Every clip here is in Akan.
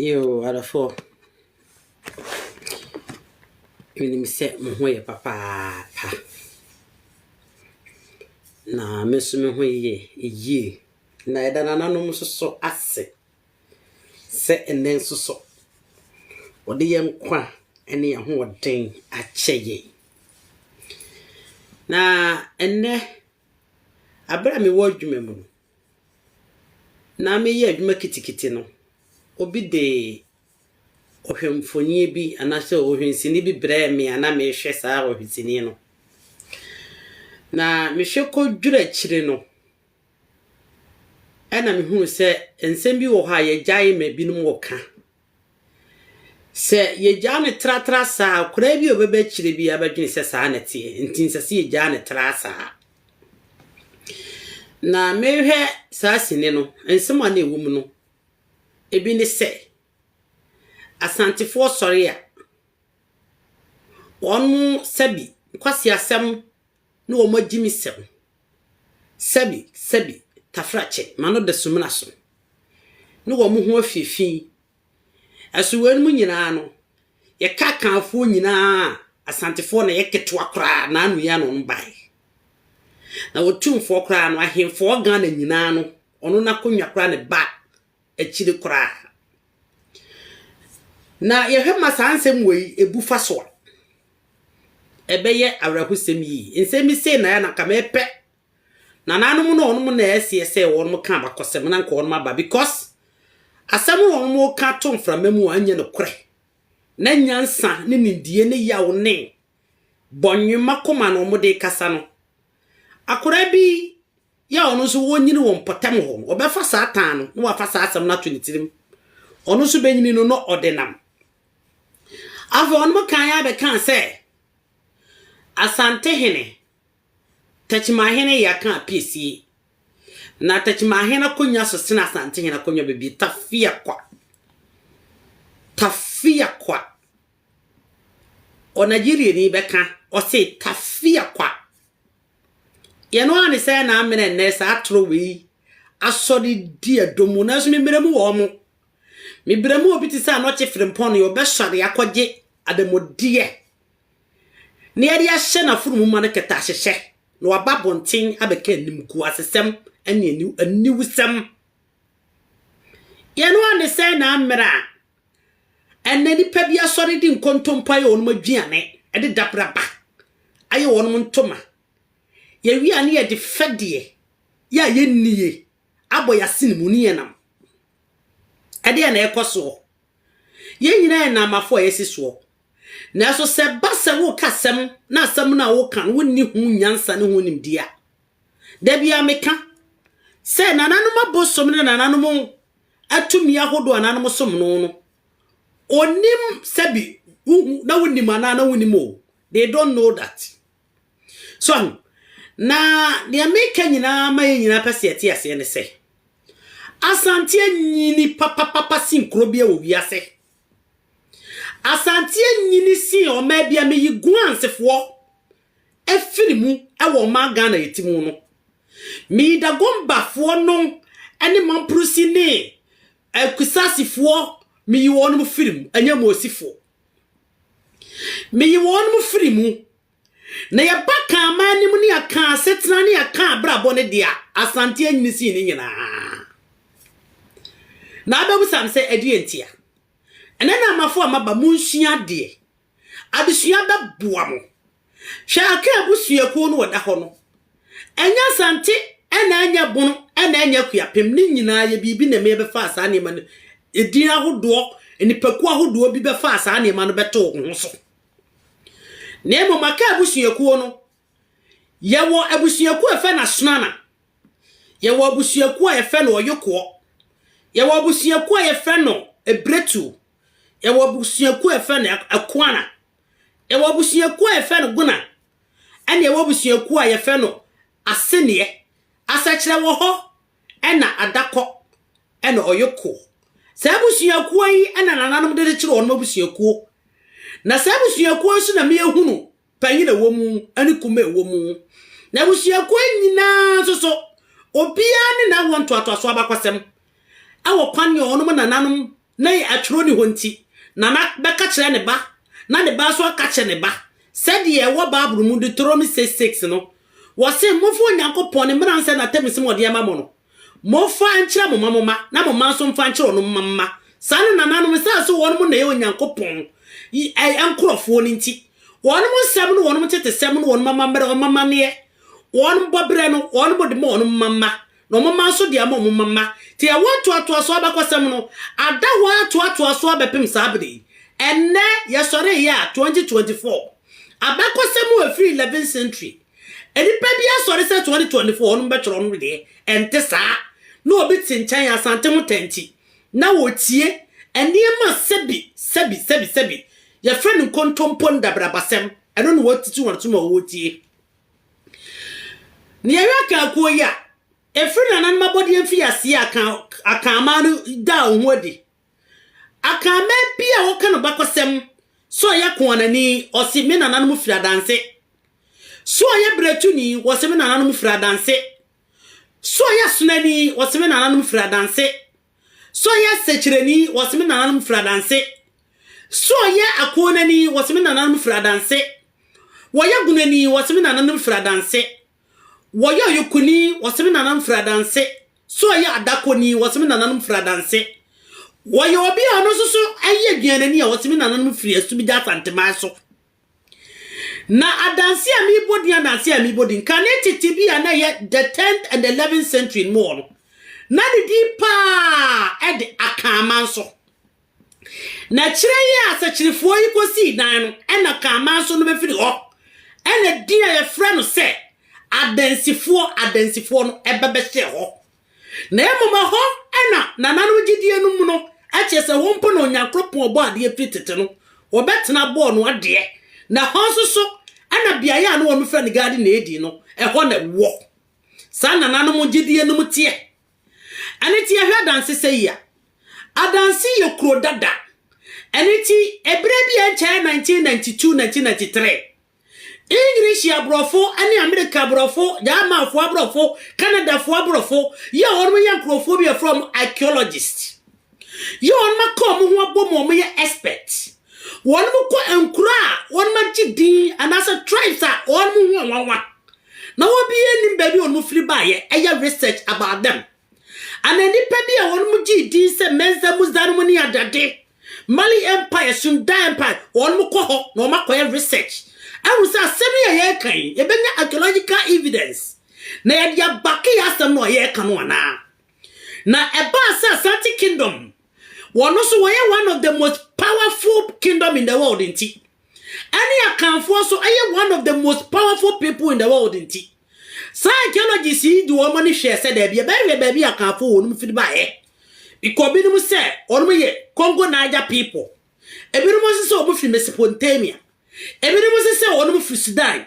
Yiw, adɔfo, minim sɛ mo ho yɛ papaapa, na me nso me ho yɛ yie, na yɛda nananom nso so ase sɛ ɛnnɛ nso so wɔde yɛn nkwa ne yɛn ahoɔden akyɛ yɛn. Na ɛnnɛ, bere a mewɔ adwuma mu no, na mereyɛ adwuma kitikiti no, obi de ɔhwɛmfonin bi anaasɛ ɔhwɛnsini bi brɛɛ me a na merehwɛ saa ɔhwɛsini no. Na mehwɛ kɔduru akyire no, ɛna mehunu sɛ nsɛm bi wɔ hɔ a yɛagyae ma binom reka. Sɛ yegyaa no tratra saa a, koraa bi a ɔbɛba akyiri biara bɛdwene sɛ saa na ɛteɛ, enti ɛnsɛ sɛ yegyaa no tra saa. Na merehwɛ saa sini no, nsɛm a na ɛwɔ mu no, ebi ne sɛ, Asantefoɔ sɔre a, wɔn sɛbi nkwaseasɛm ne wɔn agyimisɛm. Sɛbi, sɛbi, Tafrakye, m'ano da sumina so, ne wɔn ho afie fi. Ɛso weinom nyinaa no, yɛka Akanfoɔ nyinaa a, Asantefoɔ na ɛyɛ ketewa koraa na ano yi a na wɔn baeɛ. Na wɔtumfoɔ koraa no, Ahenfoɔ Ghana nyinaa no, ɔno n'akonnwa koraa na ɛba. akyiri koraa. Na yɛhwɛ ma saa nsɛm wei bu fa so a, ɛbɛyɛ awerɛhosɛm yie. Nsɛm yi sei na ɛyɛ na nka mepɛ. Nananom no wɔn na ɛseɛ sɛ wɔn ka abakɔsɛm na nka wɔn aba because asɛm a wɔn ka to mframa mu a ɛnyɛ nokorɛ. Na nyansa ne nimdie ne yaw ne bɔnwoma koma na wɔde kasa no. Akwadaa bi Yɛ ɔno nso ɔnyini wɔ mpɔtam hɔ no, ɔbɛfa saa tan no na wafa saa asɛm no ato ne tirim. Ɔno nso bɛnyini no na ɔde nam. Afei ɔnom kan ara bɛkaa sɛ, Asantehene, Takyimahene yɛ aka apiesie. Na Takyimahene akonnwa so sene Asantehene akonnwa bebie. Tafiakwa. Tafiakwa. Ɔnageriani bɛka, ɔse Tafiakwa. Yɛn ara ne sɛ na amena nnɛ saa atoro wei asɔre di ɛdɔ mu, nanso mebrɛ mu wɔ wɔn. Mebrɛ mu wɔ obi te sɛ anɔkye frempɔn no, ɔbɛsɔre akɔgye adanmudeɛ na yɛde ahyɛ n'afunumu ma no kɛtɛ ahyehyɛ na waba abɔnten abɛka animguasesɛm ne aniwusɛm. Yɛn ara ne sɛ na amena Ɛnnɛ nnipa bi asɔre de nkontompo ayɛ wɔn aduane, ɛde dabiraba ayɛ wɔn ntoma. Yɛwie a ne yɛde fɛdeɛ yɛ a yɛnnie abɔ yɛn asene mu ne yɛn nam. Ɛdeɛn na ɛrekɔ soɔ? Yɛn nyinaa yɛ nnammafoɔ a yɛasi soɔ. Nanso sɛ ɛba sɛ woreka asɛm na asɛm no a woreka no wonni ho nyansa ne ho nimdeɛ a, da biara meka sɛ nananom abosom ne nananom tumi ahodoɔ anaa nom som no no, ɔnim sɛbi wohu na wonim anaa na wonim o, they don't know that. So ahu? Na deɛ meka nyinaa ma yɛ nyinaa pɛ sɛ yɛte aseɛ ne sɛ, Asanteɛ nyini papapapa sen kuro bia wɔ wiase. Asanteɛ nyini sen ɔmaa bia meyi guansefoɔ afiri mu wɔ ɔman Ghana yɛte mu no. Meyidagombafoɔ no ne Mamprosi ne Akusasifoɔ meyi wɔn mo firi mu, ɛnyɛ Moosifoɔ. Meyi wɔn mo firi mu. Na yɛba ka ama anim ne yɛka asetena ne yɛka abrabɔ ne deɛ Asante anyini sii ne nyinaa. Na abɛbusam sɛ ɛdeɛ ntia. Ɛnɛ na amafoɔ amaba monsua adeɛ Adesua bɛboa mo. Hwɛ Aka abusuakuo no ɔda hɔ no. Ɛnyɛ Asante na ɛnyɛ Bono na ɛnyɛ Akuapem, ne nyinaa yɛ biribi na ɛma yɛbɛfaa saa nneɛma no, edin ahodoɔ, nnipakuo ahodoɔ bi bɛfaa saa nneɛma no bɛtoo ho ho so. Na mmom Aka abusuakuo no, yɛwɔ abusuakuo a yɛfɛ no Asonana, yɛwɔ abusuakuo a yɛfɛ no Ɔyokoɔ, yɛwɔ abusuakuo a yɛfɛ no Ebiretuo, Yɛwɔ abusuakuo a yɛfrɛ no Akuana. Yɛwɔ abusuakuo a yɛfrɛ no Guna. Ɛna yɛwɔ abusuakuo a yɛfrɛ no Aseneɛ. Asɛkyerɛ wɔ hɔ, ɛna Adakɔ, ɛna Ɔyoko. Saa abusuakuo yi ɛna nananom de kyekyere wɔn abusuakuo. Na saa abusuakuo yi so na meyɛhunu panyin a ɛwɔ mu ne kuma a ɛwɔ mu, na abusuakuo nyinaa nso so, obiara ne n'awoɔ ntoatoasoɔ abakɔsɛm, wɔ kwan a wɔnom nananom na atwerɛ ni hɔ nti, nana bɛka kyerɛ ne ba, na ne ba nso aka kyerɛ ne ba, sɛdeɛ ɛwɔ Bible mu, Deuteronomy 6, 6 no, wɔse, Momfa Onyankopɔn, ne mmara nsɛ n'atam nsɛm a ɔde ama mo no. Momfa nkyerɛ mo mma mo mma, na mo mma nso mfa nkyerɛ wɔn mma mma. Saa na nananom, esiane sɛ wɔnom na ɛyɛ Onyankopɔn nkurɔfoɔ no nti, wɔnom nsɛm ne wɔnom ntetesɛm ne wɔnom amammerɛ, wɔn amanneɛ, wɔnom bɔberɛ no, wɔnom de ma wɔnom mma mma, na wɔn mma nso de ama wɔn mma mma. Nti ɛwɔ ntoatoasoɔ abakɔsɛm no, ada hɔ ara toatoa so abɛpem saa bere yi. Ɛnnɛ, yɛsɔreeɛ a, 2024. Abakɔsɛm a ɛfiri 11th century. Nnipa bi asɔre sɛ 2024 wɔnom bɛtwerɛ wɔnom deɛ, ɛnte saa. Na obi te nkyɛn Asante ho tanti na ɔretie nneɛma a sɛbi sɛbi sɛbi sɛbi, yɛfrɛ no nkontompo ndabrabasɛm, ɛno na wɔatutu wɔn so ma wɔretie. Na yɛhwɛ Akan kuo yi a, ɛfiri nananom abɔdeɛ mfeaseɛ a Akan Akan man no daa wɔn ho adi Akanman bi a wɔka no bakɔsɛm, sɛ ɔyɛ koanani, ɔse me nananom firi adanse. Sɛ ɔyɛ bratuni, wɔse me nananom firi adanse. Sɛ ɔyɛ asonani, wɔse me nananom firi adanse. Sɛ ɔyɛ sɛkyerɛni, wɔse me nananom firi adanse. Sɛ ɔyɛ akoanani, wɔse me nananom firi adanse. Wɔyɛ gunani, wɔse me nananom firi adanse. Wɔyɛ ɔyokoni, wɔse me nananom firi adanse. So ɔyɛ adakoni, wɔse me nananom firi adanse. Wɔyɛ obi a ɔno nso so yɛ aduanani a wɔse me nananom firi Asubigya Asanteman so. Na adanse a mebɔ din adanse a mebɔ din kane tete bi a na ɛyɛ the tenth and the eleventh century no mu hɔ no, na ne din paa de Akaama nso. Na kyerɛ yi a asɛkyerɛfoɔ yi kɔsii dan no na Kaamaa nso no bɛfiri hɔ, ɛna din a yɛfrɛ no sɛ Adansifoɔ, Adansifoɔ no, ɛba bɛhyɛɛ hɔ. Na mmom ɛhɔ na nananom gyedie no mu no, kyerɛ sɛ wɔn mpo na Onyankopɔn ɔbɔ adeɛ firi tete no, wɔbɛtena bɔɔ no adeɛ. Na hɔ nso so ɛna beaeɛ a na wɔfrɛ no Garden Eden no, ɛhɔ na ɛwɔ. Saa nananom gyedie no mu teɛ. Ɛno nti yɛhwɛ adanse sɛ yi a, adanse yɛ kuro dada. Ɛno nti ɛberɛ bi a ɛnkyɛɛ 1992-1993, English aborɔfo ne Amerika aborɔfo, Germanfoɔ aborɔfo, Canadafoɔ aborɔfo yɛ wɔn yɛ nkurɔfoɔ bi a yɛfrɛ wɔn archaeologists. Yɛ wɔn ma ka wɔn ho abɔ mu a wɔyɛ expert. Wɔn kɔ nkuro a wɔn agye din anaasɛ tribes a wɔn ho nwanwa. Na wɔn bi yɛ nim baabi wɔn firi ba yɛ ɛyɛ research about them. Ana nipa bi a wɔn mo gye din sɛ Menza Muza no mo ne adade. Mali Empire, Sunda Empire, wɔn mo kɔ hɔ na wɔn akɔ yɛ research. Ɛhu sɛ asɛm yi a yɛ kan yi, yɛ bɛnya archaeological evidence. Na yɛ de abake yɛ asɛm no a yɛ ka no anaa. Na ɛbaa sɛ Asante Kingdom, wɔn nso wɔyɛ one of the most powerful kingdom in the world nti, ɛne Akanfoɔ nso ɛyɛ one of the most powerful people in the world nti, saa archaeologists yi de wɔn ani hwɛɛ sɛ daabi ɛbɛyɛ baabi a Akanfoɔ wɔn firi baeɛ, because binom sɛ wɔn yɛ Congo Niger people. Ebinom nso sɛ wɔn firi Mesopotamia. Ebinom nso sɛ wɔn firi Sudan.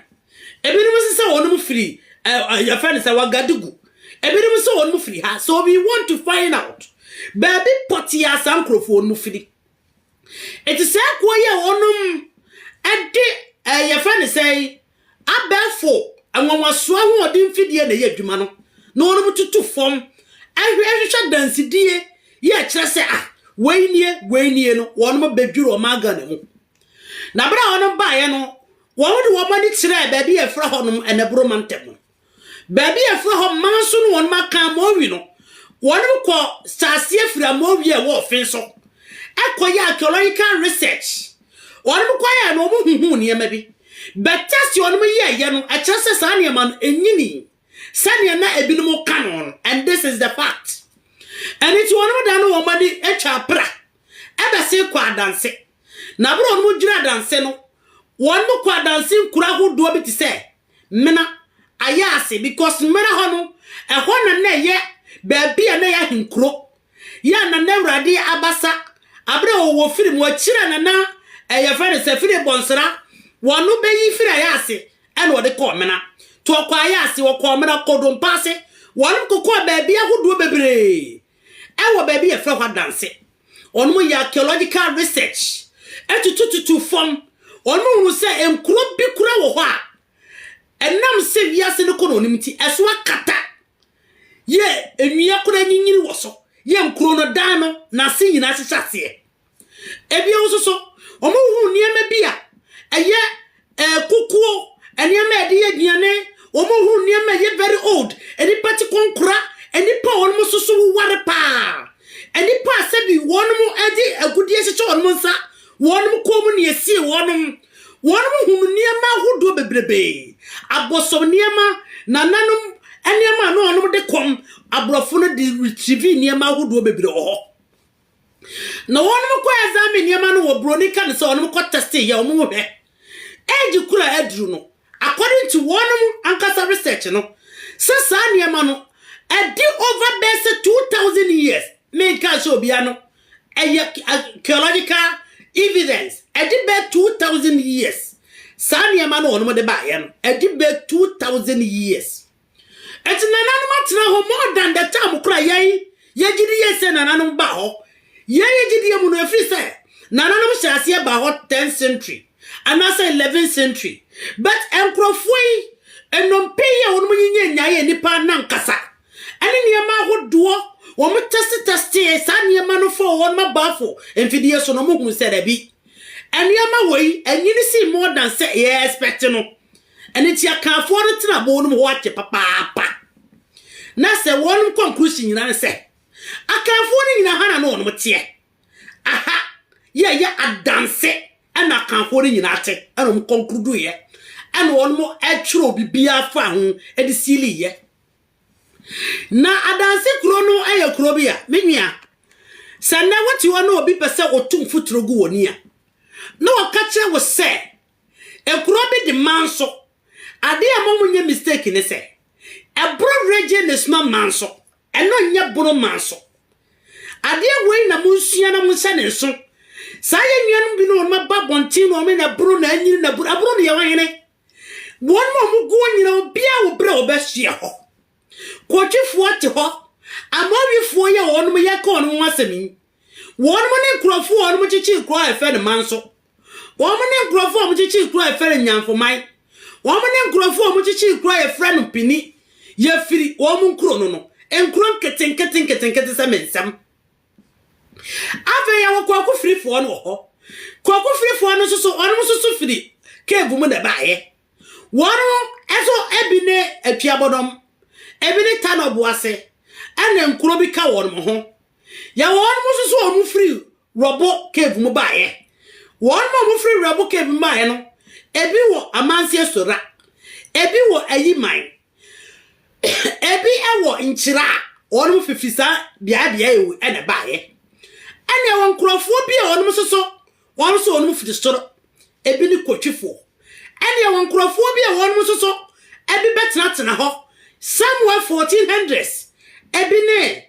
Ebinom nso sɛ wɔn firi ɛɛ yɛfrɛ no sɛ Wagadugu. Ebinom nso wɔn firi ha. So we want to find out baabi pɔtee a saa nkurɔfoɔ wɔn firi. Eti saa kuo yi a wɔn ɛde ɛɛ yɛfrɛ no sɛ Abɛɛfo nwanwaso ahoɔden mfidie na ɛyɛ adwuma no na wɔnom tutu fam hwɛ hwehwɛ dansedie yi a ɛkyerɛ sɛ ah wei nie wei nie no wɔnom bɛdwiri wɔn maa Ghana mu na berɛ a wɔnom baeɛ no wɔn de wɔn ani kyerɛɛ baabi a ɛfrɛ hɔnom Ɛnɛboro mantam no Baabi a ɛfra hɔ manso no wɔnom aka Amowi no, wɔnom kɔ saaseɛ firi Amowi a ɛwɔ ɔfen so ɛkɔ yɛ archaeological research. Wɔnom kɔ yɛɛ no wɔn huhuu nneɛma bi. But test wɔnom yɛɛ yɛ no ɛkyerɛ sɛ saa nneɛma no ɛnyini sɛdeɛ na ɛbinom ka no no and this is the fact. Ɛno nti wɔnom da no wɔn ani ɛtwa apra ɛbɛse kɔ adanse. Na bere wɔnom dwiri adanse no wɔnom kɔ adanse nkuro ahodoɔ bi te sɛ Mena ayɛ ase because Mena hɔ no, ɛhɔ na na ɛyɛ baabi a na ɛyɛ ahenkuro. Yɛ a na na Awurade abasa, abere a ɔwɔ firi mu, akyiri a na na ɛyɛ fɛ no sɛ firi bɔnsra, wɔno bɛyi firi ayɛ ase ɛna ɔde kɔɔ Mena. To ɔkɔ ayɛ ase, ɔkɔɔ Mena, ɔkɔɔ Dompa ase, wɔnom kokɔɔ baabi ahodoɔ bebree Ɛwɔ baabi yɛfrɛ hɔ adanse. Wɔnom yɛ archaeological research tutututu fam. Wɔnom hunu sɛ nkuro bi kura wɔ hɔ a ɛnam sɛ wiase no kɔ na onim nti ɛso akata yɛ nnua kura nyinyini wɔ so yɛ nkuro no dan no n'ase nyinaa hyehyɛ aseɛ. Ebio nso so, wɔhunu nneɛma bi a ɛyɛ kukuo, nneɛma a yɛde yɛ aduane, wɔhunu nneɛma a ɛyɛ very old, nnipa te kɔnkora, nnipa a wɔn nso so woware paa, nnipa a sɛbi wɔn de agudeɛ hyehyɛ wɔn nsa, wɔn kɔn mu na esie wɔn. Wɔn hunu nneɛma ahodoɔ bebrebe, abɔsɔm nneɛma, nananom nneɛma a na wɔn de kɔm, aborɔfo no de retrieve nneɛma ahodoɔ bebrebe wɔ hɔ. Na wɔnom kɔ examine nneɛma no wɔ broni ka no sɛ wɔnom kɔ testing yɛ wɔn hwɛ age koro a aduru no according to wɔnom ankasa research no sɛ saa nneɛma no ɛdi over bɛyɛ sɛ 2000 years menka sɛ obia no ɛyɛ archaeological evidence ɛdi bɛyɛ 2000 years saa nneɛma no wɔnom de baayɛ no ɛdi bɛyɛ 2000 years Enti nananom atena hɔ more than the time kora yɛn yɛgye di yɛ sɛ nananom baa hɔ yɛn yɛgye di mu no ɛfiri sɛ nananom hyɛ aseɛ baa hɔ 10 century anaasɛ 11 century but nkurɔfoɔ yi nnompe yi a wɔnom nyinyɛ nyaeɛ nnipa no ankasa ɛne nneɛma ahodoɔ wɔn tɛste tɛstee saa nneɛma no fɔ wɔnom abaafo mfidie so no wɔn hunu sɛ dabi nneɛma wɔ yi anyini sii more than sɛ yɛ expect no Ɛno nti Akanfoɔ no tena boo no mu hɔ akyɛ papaapa. Na sɛ wɔnom kɔnkrusi nyina ne sɛ, Akanfoɔ no nyina ha na ne wɔnom teɛ. Aha yɛɛyɛ adanse ɛna Akanfoɔ no nyina te ɛna wɔnom kɔnkruduiɛ ɛna wɔnom ɛtwerɛ bibia faa ho ɛde siiliiɛ. Na adanse kuro no ɛyɛ kuro bi a, me nua, sɛ nɛ wote hɔ na obi pɛ sɛ otu mfuturo gu wɔ ni a, na wɔka kyerɛ wo sɛ Ekuro bi de manso. Adeɛ a momo nyɛ mistake ne sɛ, ɛboro region is not manso. Ɛno nyɛ bono manso. Adeɛ wei na monsua na monhyɛ ne nso. Saa yɛ nuanom bi no wɔn aba abɔnten no wɔn na ɛboro na anyini na ɛboro. Ɛboro no yɛ wɔn hene. Wɔn ma wɔn guo nyina obiara wɔ berɛ a wɔbɛhyeɛ hɔ. Kotwifoɔ te hɔ. Amoawifoɔ yɛ wɔn yɛka wɔn ho asɛm yi. Wɔn ne nkurɔfoɔ wɔn kyekyee kuro a yɛfrɛ no manso. Wɔn ne nkurɔfoɔ a wɔkyekyere kuro a yɛfrɛ no Nyankoman. Wɔn ne nkurɔfoɔ a wɔkyekyere kuro a yɛfrɛ no Pini. Yɛfiri wɔn nkuro no no, nkuro nketenkete nketenkete sɛ me nsam. Afei yɛwɔ Kwaku Firifoɔ no wɔ hɔ. Kwaku Firifoɔ no nso so, wɔn nso so firi cave mu na ɛbaeɛ. Wɔn nso ebi ne Atuabɔdɔm, ebi ne Tanɔboase, ɛna nkuro bi ka wɔn ho. Yɛwɔ wɔn nso so a wɔfiri Werɛbo Cave mu baeɛ. Wɔn a wɔfiri Werɛbo Cave mu baeɛ no, ebi wɔ Amansie Sora, ebi wɔ Ayiman, ebi wɔ Nkyira a wɔnom fifi saa beaeɛ beaeɛ yi na ɛbaeɛ. Ɛna ɛwɔ nkurɔfoɔ bi a wɔnom nso so, wɔn nso wɔnom firi soro, ebi ne Kotwifoɔ. Ɛna ɛwɔ nkurɔfoɔ bi a wɔnom nso so, ebi bɛtenatena hɔ somewhere 1400s, ebi ne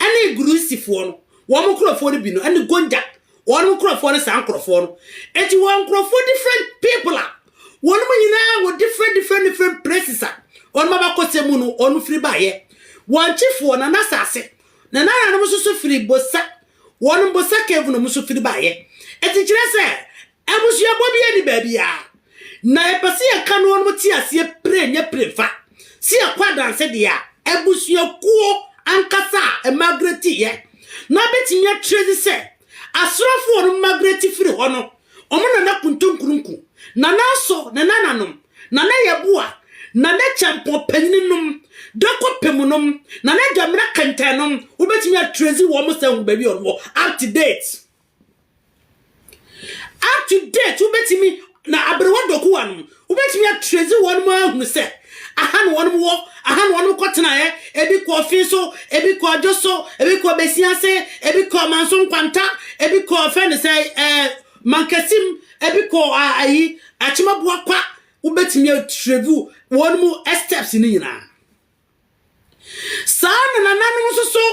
ɛne Girisifoɔ no, wɔn nkorɔfoɔ no bi no, ɛne Gonjak, wɔn nkorɔfoɔ no, saa nkorɔfoɔ no. Enti wɔn nkorɔfoɔ different people a, wɔn nyinaa wɔ different different different places a, wɔn abakɔsɛ mu no, wɔn firi baeɛ. Wɔn kyifoɔ, na n'asase, na n'ananom nso so firi Bosa, wɔn Bosa cave no nso firi baeɛ. Enti kyerɛ sɛ, Abusuabɔ biara nni baabi a na yɛpɛ sɛ yɛka no wɔnom te aseɛ pire nyɛ pire fa sɛ yɛkɔ adanse deɛ a, abusuakuo ankasa a Margaret yɛ no abɛtumi akyerɛ dzi sɛ asrafo wɔnom Margaret firi hɔ no wɔn na na kuntunkurunku, nana aso ne nananom, nana yɛboa, nana kyɛmpɔn panyini nom, dako pemu nom, nana dwamena kɛntɛn nom, wobɛtumi akyerɛ dzi wɔn sɛ hu baabi a wɔnom wɔ up to date. Up to date wobɛtumi na aberewa dokuwa no wobɛtumi atrɛzi wɔn mu ahunu sɛ aha na wɔn wɔ aha na wɔn kɔ tenaeɛ ebi kɔ ɔfe so ebi kɔ adwo so ebi kɔ bɛsi ase ebi kɔ manso nkwanta ebi kɔ ɔfɛ ne sɛ ɛɛ mankasim ebi kɔ ayi akyemaboa kwa wobɛtumi atrɛvu wɔn mu steps no nyinaa. Saa na nananom nso so,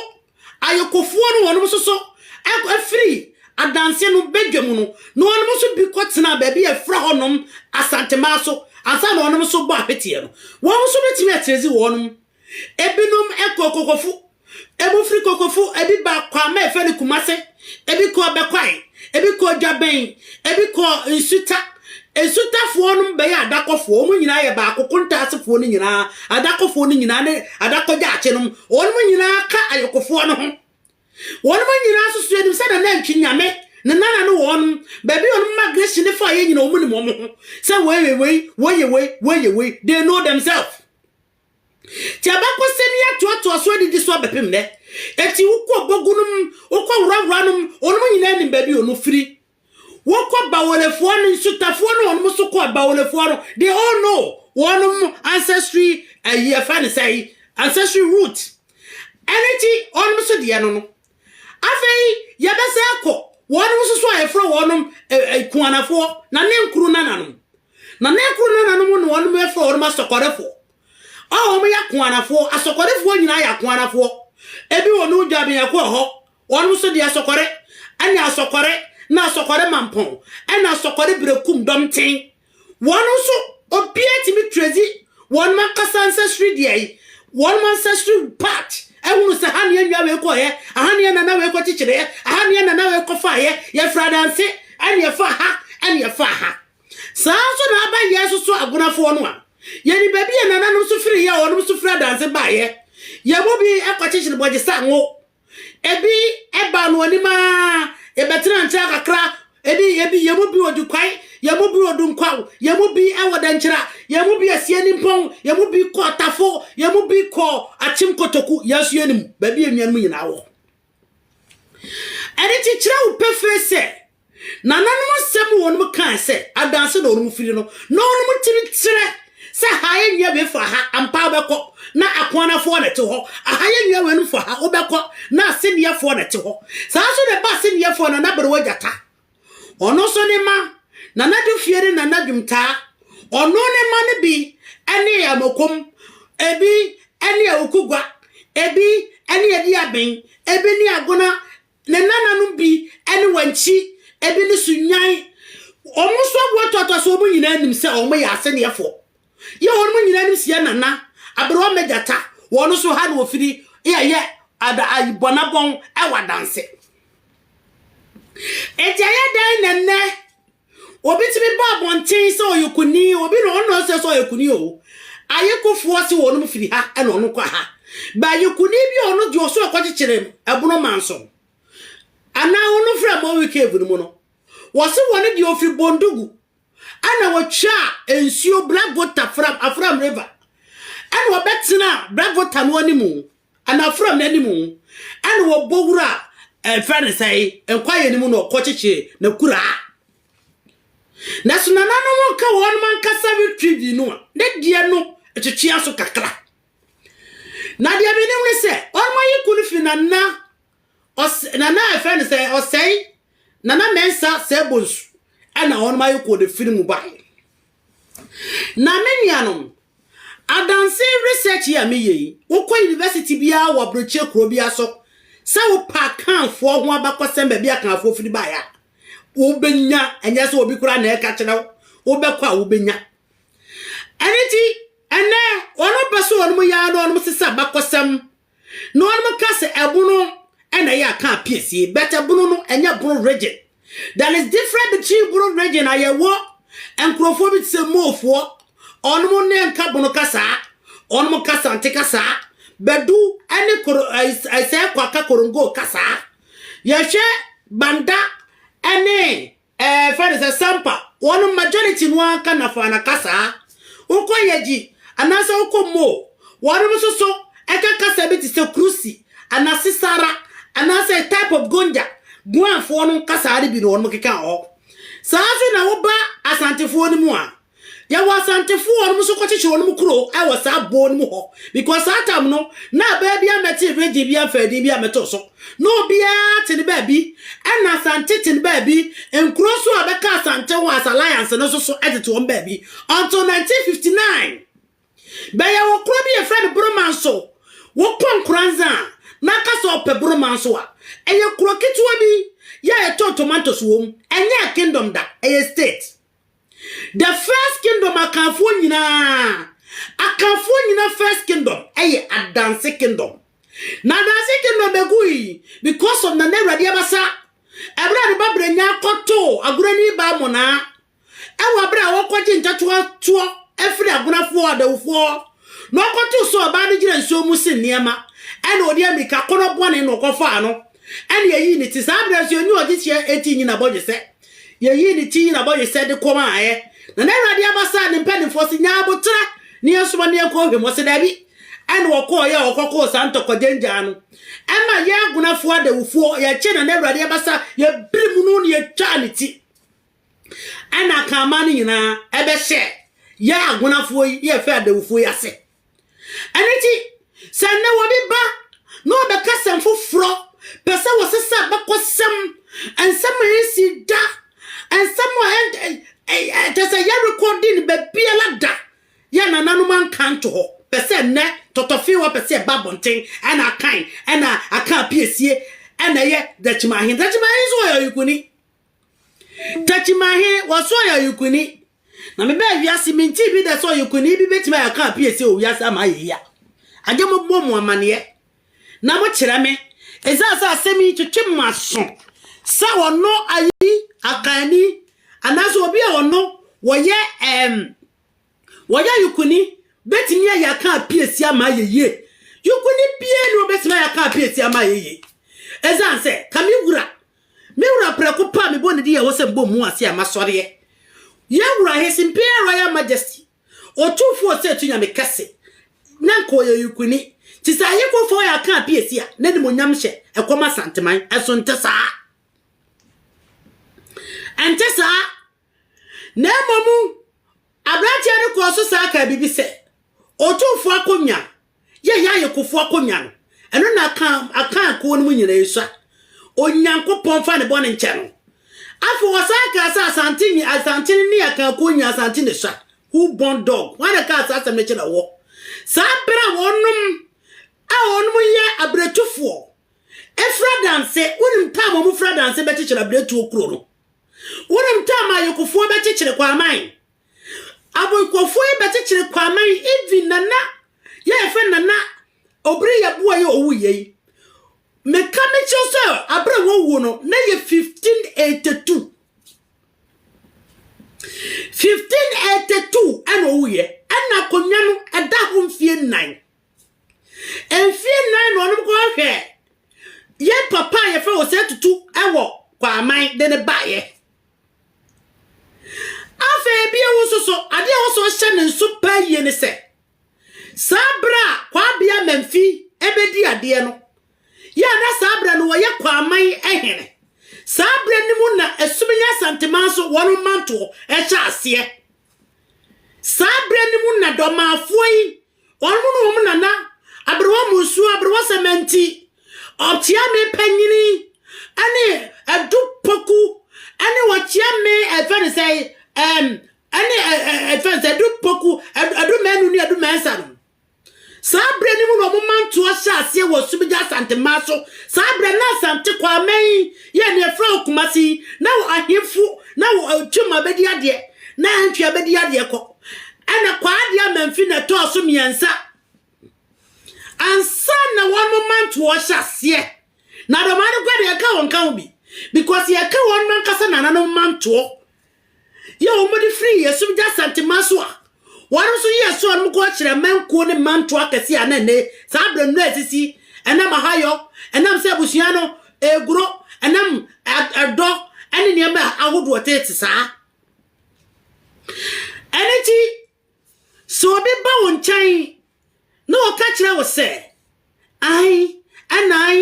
ayokofoɔ no wɔnom nso so afiri adanseɛ no badwam no, na wɔnom nso bi kɔtenaa baabi a ɛfra hɔ nom Asantemaa so ansa na wɔnom nso bɔ ahweteɛ no. Wɔnom nso bɛtumi atenedzi wɔnom. Ebinom kɔɔ Kokofo Ebi firi Kokofo, ebi baa Kwame a yɛfrɛ no Kumase, ebi kɔɔ Bɛkwae, ebi kɔɔ Dwabɛn, ebi kɔɔ Nsuta. Nsutafoɔ no bɛyɛ Adakɔfoɔ, wɔn nyinaa yɛ baako, Kontaasefoɔ no nyinaa, Adakɔfoɔ no nyinaa ne Adakɔgyaakye nom, wɔn nyinaa ka Ayokofoɔ no ho. Wɔn nyinaa nso so yɛnim sɛ Nana Antwi Nyame, ne nana ne wɔn, baabi wɔn migration ne faeɛ nyinaa wɔn nim wɔn ho, sɛ wɔyɛ wei, wɔyɛ wei, wɔyɛ wei, they know themselves. Nti abakɔsɛm yi atoatoa so adidi so abɛpem nnɛ. Enti wokɔ bogu no mu, wokɔ worawora no mu, wɔnom nyinaa nim baabi wɔnom firi. Wokɔ Bawolefoɔ no, Nsutafoɔ no wɔnom so kɔ Bawolefoɔ no, they all know wɔnom ancestry, ayi yɛfrɛ no sɛn, ancestry root. Ɛno nti wɔnom so deɛ no no, Afei yɛbɛsan akɔ wɔnom nso so a yɛfrɛ wɔnom kuanafoɔ, na ne nkuro nananom. Na ne nkuro nananom na wɔnom yɛfrɛ wɔnom asɔkɔrefoɔ. A wɔn yɛ kuanafoɔ, asɔkɔrefoɔ nyinaa yɛ akuanafoɔ. Ebi wɔ no dwa biako wɔ hɔ, wɔnom nso de asɔkɔre, ɛne asɔkɔre, na asɔkɔre mampɔn, ɛne asɔkɔre berekum dɔmten, Wɔn nso, obiara tumi trɛsi wɔn ankasa nsɛsiri deɛ yi, wɔn ancestry part, ɛhunu sɛ ha neɛ nwa wei kɔɔyɛ, aha neɛ nana wei kɔ kyekyereɛ, aha neɛ nana wei kɔ faayɛ, yɛfra danse, ɛne ɛfa ha, ɛne ɛfa ha. Saa nso na aba yɛn nso so agonafoɔ no a, yɛni baabi a nananom nso firi yɛ a wɔnom nso firi adanse baayɛ, yɛn mu bi kɔ kyekyere bɔgye sa ngo, Ebi baa no anim ara, yɛbɛtenaa nkyɛn kakra, ebi, ebi, yɛn mu bi wɔ Dukwae, yɛn mu bi wɔ Dunkwaw, yɛn mu bi wɔ Dankyira, yɛn mu bi asie Nimpɔn, yɛn mu bi kɔ Tafo, yɛn mu bi kɔ Akyem Kotoku, yɛn nso yɛnim baabi a nnuanom nyinaa wɔ. Ɛno nti kyerɛ wo pefee sɛ Nananom nsɛm mu wɔnom kaae sɛ adanse na wɔnom firi no na wɔnom tiri kyerɛ sɛ ha yɛ nnua wei fa ha ampa wobɛkɔ na akoanafoɔ na ɛte hɔ, aha yɛ nnua weinom fa ha wobɛkɔ na aseneɛfoɔ na ɛte hɔ. Saa nso na ɛba aseneɛfoɔ Nana Berewa Gyata. Ɔno nso ne mma Nana Dufie ne Nana Dwumtaa. Ɔno ne mma no bi ne Amokom, ebi ne Awukugwa, ebi ne Adiaben, ebi ne Agona Ne nananom bi ne wɔn nkyi, ebi ne so nyan. Wɔn nso aboa toatoa so, wɔn nyinaa nim sɛ wɔn yɛ aseneɛfoɔ. Yɛ wɔn nyinaa nim sɛ yɛ nana, aberewa mɛ gyata, wɔn nso ha na wɔfiri yɛ yɛ ada ayi bɔnabɔn ɛwɔ adanse. Enti ɛyɛ dɛn na nnɛ Obi tumi ba abɔnten sɛ ɔyɛ kuni, obi na ɔno ɛsɛ sɛ ɔyɛ kuni o. Ayekofoɔ se wɔnom firi ha ɛna ɔno kɔ ha. Ba yɛ kuni bi a ɔno deɛ ɔso ɛkɔkyekyere ɛbono manso. Anaa ɔno frɛ Mɔwi Cave no mu no. Wɔse wɔne deɛ ɔfiri Bondugu. Ɛna wɔtwa nsuo Black Gota, Afram River. Ɛna ɔbɛtena Black Gota no animu. Anafra mmɛ no mu, ɛna wɔbɔ wura a ɛfrɛ no sɛe nkwayɛ no mu na ɔkɔkyekye n'akuraa. Nanso nananom nka wɔn ankasa retrievi no a, ne deɛ no twetwea so kakra. Na deɛ menim ne sɛ wɔn ayeko no fi nana Ɔsɛ na na ɛfɛ no sɛ ɔsɛe na na mɛnsa sɛ bonsu ɛna wɔn ayɛ kɔɔ ne firi mu bae. Na me nuanom, adanse research yi a meyɛ yi, wokɔ university biara wɔ aburokyire kuro biara so sɛ wopɛ akanfoɔ ho abakɔsɛm baabi akanfoɔ firi baeɛ a, wobɛnya, ɛnyɛ sɛ obi koraa na ɛka kyerɛ wo, wobɛkɔ a wobɛnya. Ɛno nti, ɛnɛ wɔn pɛ so wɔn yɛ ara na wɔn sesa abakɔsɛm. Na wɔnom ka sɛ ɛbono ɛna ɛyɛ a ka apiesie but ɛbono no ɛnyɛ bono region there is different between bono region a yɛwɔ nkurɔfoɔ bi te sɛ moofoɔ wɔnom ne nka bono kasaa wɔnom ka sante kasaa bɛdu ɛne koro ɛsɛ kwaka korongo kasaa yɛhwɛ banda ɛne Ɛɛ fɛ no sɛ sampa wɔnom majority no ara ka nafaana kasaa wokɔ yɛgyi anaasɛ wokɔ moo wɔnom nso so ɛka kasa bi te sɛ krusi ana sisara anaasɛ a type of gonja guan foɔ nom kasaa no bi na wɔnom keka wɔ hɔ saa nso na woba asantefoɔ no mu a Yɛwɔ Asantefo wɔnom nso kɔkyekyere wɔnom kuro wɔ saa boɔ no mu hɔ because saa tam no na abaa bia mɛte regye bia mfaa din bia mɛto so na obiara te ne baabi ɛna Asante te ne baabi nkuro nso a bɛka Asante ho as alliance no nso so ɛtete wɔn baabi until 1959 bɛyɛ wɔ kuro bi yɛfrɛ no Boroma nso wokɔ Nkoranza a na aka sɛ ɔpɛ Boroma nso a ɛyɛ kuro ketewa bi yɛ a yɛtɔn tomatoes wɔ mu ɛnyɛ kingdom da ɛyɛ state The first kingdom Akanfoɔ nyinaa Akanfoɔ nyina first kingdom ɛyɛ Adanse kingdom Na Adanse kingdom bɛgui because of Nana Awurade Abasa Ɛberɛ a ne ba Brɛnya kɔtoo Agorani baa Monaa Ɛwɔ aberɛ a wɔkɔgye ntatoa toɔ afiri Agonafoɔ Adawufoɔ Na ɔkɔtoo sɛ ɔbaa no gyina nsuo mu se nneɛma Ɛna ɔde amirika kɔnɔ bɔne na ɔkɔfaa no Ɛna yɛyii ne ti. Saa berɛ nso yɛnni ɔgyekyeɛ enti nyi n'abɔdwesɛ. Yɛyii ne ti, nyi n'abɔdwesɛ de kɔ maa yɛ. Na n'Awurade aba saa ne mpanimfoɔ se, Nyaa aboterɛ na yɛnsoma no yɛnkɔ ɔhwɛ mu. Ɔse, Dabi. Ɛna wɔkɔɔeɛ a wɔkɔkoo saa ntɔkwagyɛn gyaa no. Ɛma yɛ agonafoɔ adawufoɔ, yɛkyee na n'Awurade aba saa, yɛbirim no na yɛtwaa ne ti. Ɛna Akanman no nyinaa ɛbɛhyɛɛ yɛ agonafoɔ yi ne yɛfɛ adawufoɔ yi ase. Ɛno nti, sɛ nnɛ obi ba na ɔbɛka asɛm foforɔ, pɛ sɛ wɔsesa abakɔsɛm, nsɛm a ɛnsi da, nsɛm a ɛkyɛ sɛ yɛrekɔdi no baabiara da, yɛ nananom anka nto hɔ, pɛ sɛ nnɛ tɔtɔfee wɔ pɛ sɛ ɛba abɔnten ɛna akan ɛna aka apiesie ɛna ɛyɛ Dakyima Ahen. Dakyima Ahen nso ɔyɛ ɔyekuni. Takyimahe, Wɔso ɔyɛ ɔyekuni. Na me bɛɛ wiase me ntii bi da sɛ ɔyekuni bi bɛtumi ayɛ ɔka appear sɛ wɔ wiase ama ayɛ yia. Agye mo bɔ mo amaneɛ na mo kyerɛ me ɛsiane sɛ asɛm yi twetwe mo aso sɛ ɔno ayi akanni anaasɛ obi a ɔno wɔyɛ ɛɛm wɔyɛ ɔyekuni bɛtumi ayɛ aka appear si ama ayɛ yie. Yekuni biara ni ɔbɛtumi ayɛ aka appear si ama ayɛ yie ɛsiane sɛ kame wura Me wura prɛko pɛ a mebɔ ne din a ɛwɔ sɛ mebɔ mmu ase a masɔreɛ. Yɛn wura, His Imperial Royal Majesty, Otumfoɔ Ɔsɛetu Nyame Kɛse, na nka ɔyɛ Ɔyikuni. Te sɛ Ayeko fa ɔyɛ aka apiesi a n'animuonyam hyɛ ɛkɔm Asanteman, ɛso nte saa? Ɛnte saa? Na mmom aberanteɛ no kɔɔ so san kaa biribi sɛ, Otumfoɔ akonnwa, yɛn ayɛkofoɔ akonnwa no, ɛno na aka aka akuo no mu nyinaa yi sua. Onyankopɔn mfa ne bɔne nkyɛ no. Afei ɔsan kaa sɛ, Asante nyi Asante no ne aka akuo nyinaa Asante na sua. Who born dog? Hwan na kaa saa asɛm no kyerɛ wɔ saa berɛ a wɔnom a wɔnom yɛ abiretufoɔ efira danse, wonim tam wɔn fira danse bɛkyekyere abiretuo kuro no? Wonim time a Yokofoɔ bɛkyekyere Kwaaman? Aboykofoɔ yi bɛkyekyere Kwaaman even Nana yɛ yɛfrɛ Nana Obiri Yɛboa yi owu yɛ yi. Meka me kyerɛ sɛ abere wɔwuo no na yɛ 1582. 1582 ɛna owu yɛ ɛna akonnwa no ɛda ho mfie nnan. Mfeɛ nnan na ɔnom kɔɔ hwɛɛ yɛn papa a yɛfrɛ Osei Tutu wɔ Kwaman de ne baeɛ. Afei ebia wo nso so adeɛ a wɔsɔ hyɛ ne nso paa yie ne sɛ saa berɛ a Kwabea Mamfi ɛbɛdi adeɛ no yɛ a na saa berɛ no wɔyɛ Kwaman hene. Saa berɛ no mu na Asumenyi Asanteman so wɔn mantoɔ ɛhyɛ aseɛ. Saa berɛ no mu na dɔmafoɔ yi Wɔnom ne wɔn nana aberewa mu nsuo aberewasɛm nti, ɔkyea me panyini ne adu poku ne ɔkyea me ɛfɛ ne sɛ ɛm ne ɛfɛ ne sɛ adu poku adu mɛnu ne adu mɛnsa no. Saa berɛ no mu na wɔn mantoɔ hyɛ aseɛ wɔ Sumigya Asante mmaa so. Saa berɛ na Asante Kwame yi yɛ ne ɛfrɛ wɔ Kumasi na wɔ ahemfo na wɔ ɔtwam abɛdi adeɛ na antwi abɛdi adeɛ kɔ. Ɛna Kwaadei Amamfi na ɛtɔɔ so mmiɛnsa. Ansa na wɔn mantoɔ hyɛ aseɛ. Na Adomaa no kora deɛ yɛka wɔn ka ho bi. Because yɛka wɔn mankasa nananom mantoɔ. Yɛ wɔn de firi yɛsum gya santema so a. Wɔn nso yɛ ɛso wɔn kɔ kyerɛ mankuo ne mantoɔ akɛseɛ a na ɛnɛ saa berɛ no ɛsisi. Ɛnam ahayɔ, ɛnam sɛ abusua no ɛguro, ɛnam ɛdɔ ɛne nneɛma ahodoɔ tete saa. Ɛno nti, sɛ obi ba wo nkyɛn na ɔka kyerɛ wo sɛ, ae, ɛna ae,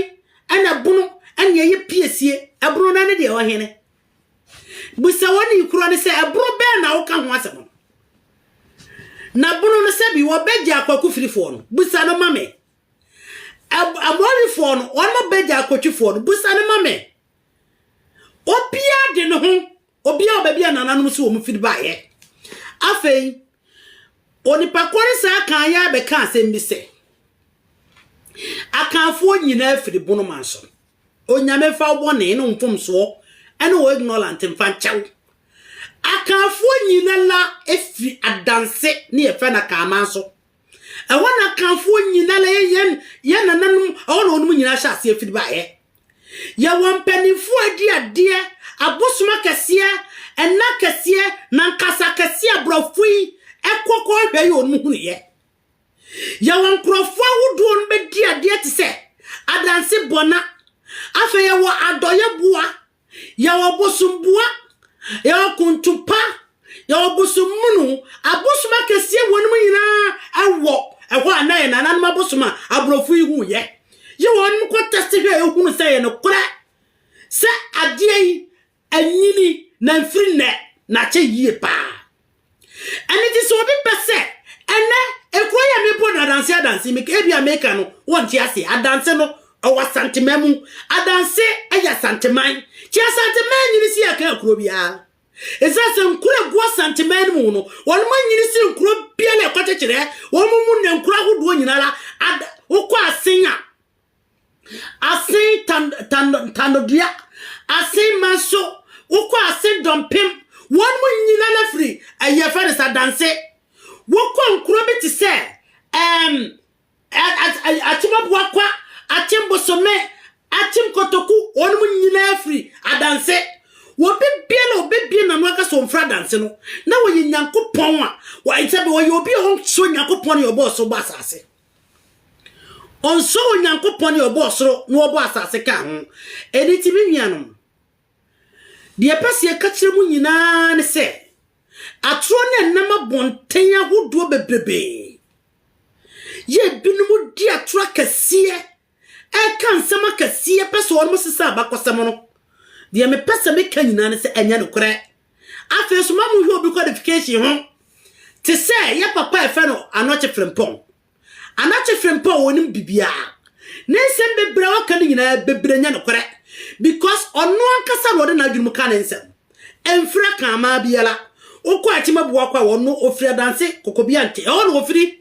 ɛna bono, ɛne ɛyɛ piesie, ɛbono no ɛne deɛ ɔhene. Bisa wɔn ne korɔ no sɛ, ɛbono bɛn na woka ho asɛm no? Na bono no sɛ bi wɔbɛgye akwakufirifoɔ no, bisa no ma me. Amorifoɔ no, wɔn bɛgye akotwifoɔ no, bisa no ma me. Obiara de ne ho Obiara wɔ baabi a nananom se wɔn firi baeɛ. Afei, onipa kɔre saa Akan yi ara bɛka asɛm bi sɛ, Akanfoɔ nyinaa firi Bonoman so. Onyame mfa wo bɔne ne wo mfomsoɔ ne wo ignorant mfa nkyɛ wo. Akanfoɔ nyina la firi Adanse ne yɛfrɛ no Akanman so. Ɛhɔ na Akanfoɔ nyina la yɛ yɛn nananom ɛhɔ na wɔnom nyinaa hyɛ aseɛ firi baeɛ. Yɛwɔ mpaninfoɔ adi adeɛ, abosom akɛseɛ, ɛna akɛseɛ, na nkasa akɛseɛ a borɔfo yi ɛkɔ kɔ hwɛ yɛ wɔn hunu yɛ. Yɛwɔ nkorɔfoɔ ahodoɔ no bɛdi adeɛ te sɛ adanse bɔna, afei yɛwɔ adɔyɛ boa, yɛwɔ bosom boa, yɛwɔ kontopa, Yɛwɔ bosom munu, abosom akɛseɛ wɔ nom nyinaa wɔ ɛhɔ a na yɛ nananom abosom a aborɔfo yi hu yɛ. Yɛ wɔ nom kɔ tɛste hwɛ a yɛ hunu sɛ yɛ no korɛ sɛ adeɛ yi anyini na mfiri nnɛ na akyɛ yie paa. Ɛne ti sɛ obi pɛ sɛ ɛnɛ ekuro yɛ me bɔ no adanse adanse me ebi a meka no wɔ nti ase adanse no ɛwɔ asantema mu adanse ɛyɛ asanteman ti asanteman nyini si yɛ ka kuro biara Esiane sɛ nkuro a ɛgu Asanteman no mu no, wɔn anyini sen nkuro biara a ɛkɔkyekyerɛ wɔn mu nnɛ nkuro ahodoɔ nyinaa ara ad wokɔ asen a asen tan tan tanodua asen manso wokɔ asen dɔmpem wɔn mu nyinaa ara firi ɛyɛ fɛ no sɛ adanse wokɔ nkuro bi te sɛ ɛɛm Akyem Abuakwa, Akyem Bosome, Akyem Kotoku, wɔnom nyinaa firi adanse. Wɔbi biara a ɔbɛbie n'ano aka sɛ ɔmfiri adanse no, na wɔyɛ Nyankopɔn a, sɛbi ɔyɛ obi a ɔnsɔ Nyankopɔn ne ɔbɔ ɔsoro bɔ asase. Ɔnsɔ Onyankopɔn ne ɔbɔ ɔsoro na ɔbɔ asase ka ho. Ɛni ti me nuanom, deɛ pɛ sɛ yɛka kyerɛ mu nyinaa ne sɛ, atoro ne ɛnam abɔnten ahodoɔ bebrebee, Yɛ binom di atoro akɛseɛ, ɛka nsɛm akɛseɛ, pɛ sɛ wɔnom sesa abakɔsɛm no. Deɛ mepɛ sɛ meka nyinaa ne sɛ ɛnyɛ nokorɛ. Afei nso ma monhwɛ obi qualification ho. Te sɛ yɛ papa a ɛfɛ no Anɔkye Frimpong. Anɔkye Frimpong ɔnim bibiaa. Ne nsɛm bebree a ɔka no nyinaa bebree nyɛ nokorɛ because ɔno ankasa na ɔde n'adwene mu ka ne nsɛm. Ɛmfra Kraman biara. Wokɔ Akyimabuakɔ a, wɔ no ɔfiri Adanse, Kokobiante. Ɛhɔ na ɔfiri.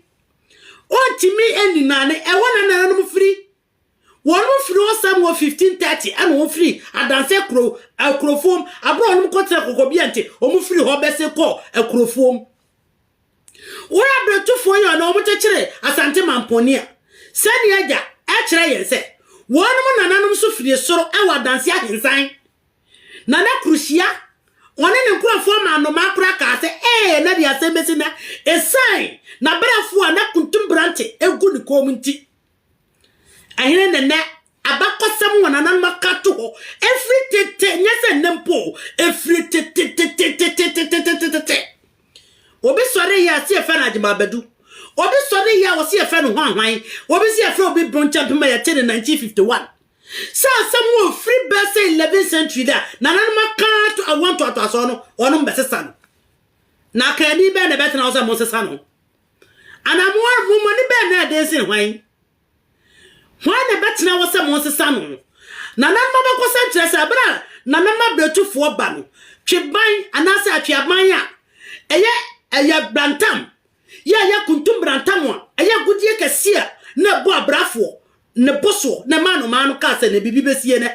Ɔntumi nni Nane. Ɛhɔ na nananom firi. Wɔn firi hɔ saa mu wɔ 1530 ɛna wɔn firi Adanse kuro, Akurofuom. Aberɛ wɔn kɔ tena Kokobiante, wɔn firi hɔ bɛse kɔ Akurofuom. Wɔyɛ abrɛtufoɔ yi a na wɔn kyekyere Asante Mampɔni a, sɛnea agya ɛkyerɛ yɛn sɛ, wɔnom nananom nso firi soro ɛwɔ Adanse Ahensan Na na kuruhyia ɔne ne nkurɔfoɔ maa nnomaa koraa kaa sɛ, Ee, na deɛ asɛm bɛsi nnɛ, ɛsiane n'abrɛfoɔ a na kuntumbrante gu ne kɔn mu nti. Ɛhene ne nnɛ abakɔsɛm a nananom aka ato hɔ ɛfiri tete, nyɛ sɛ nnɛ mpo, ɛfiri tetetetetetetetetete. Obi sɔre yɛ a si yɛfɛ no agyemaabadu. Obi sɔre yɛ a wɔsi yɛfɛ no hwanhwan. Obi si yɛfrɛ obi bronkyɛmpema yɛte ne 1951. Saa asɛm wɔ mfiri bɛsɛ 11 century da nananom aka ato awoɔ ntoatoasoɔ no wɔnom bɛsesa no na akaani bɛn na ɛbɛtena hɔ sɛ monsesa no anaa mo ara mo mmɔne bɛn na ɛden sen hwan hwan na ɛbɛtena hɔ sɛ monsesa no nananom abakɔsɛm kyerɛ sɛ ɛberɛ a nananom abrɛtufoɔ ba no tweban anaasɛ atweaban a ɛyɛ ɛyɛ brantam yɛ ɛyɛ kuntum brantam a ɛyɛ agodie kɛseɛ na ɛbɔ abrafoɔ ne bo soɔ na ɛmaa nnomaa no kaa sɛ na biribi bɛsi ɛnɛ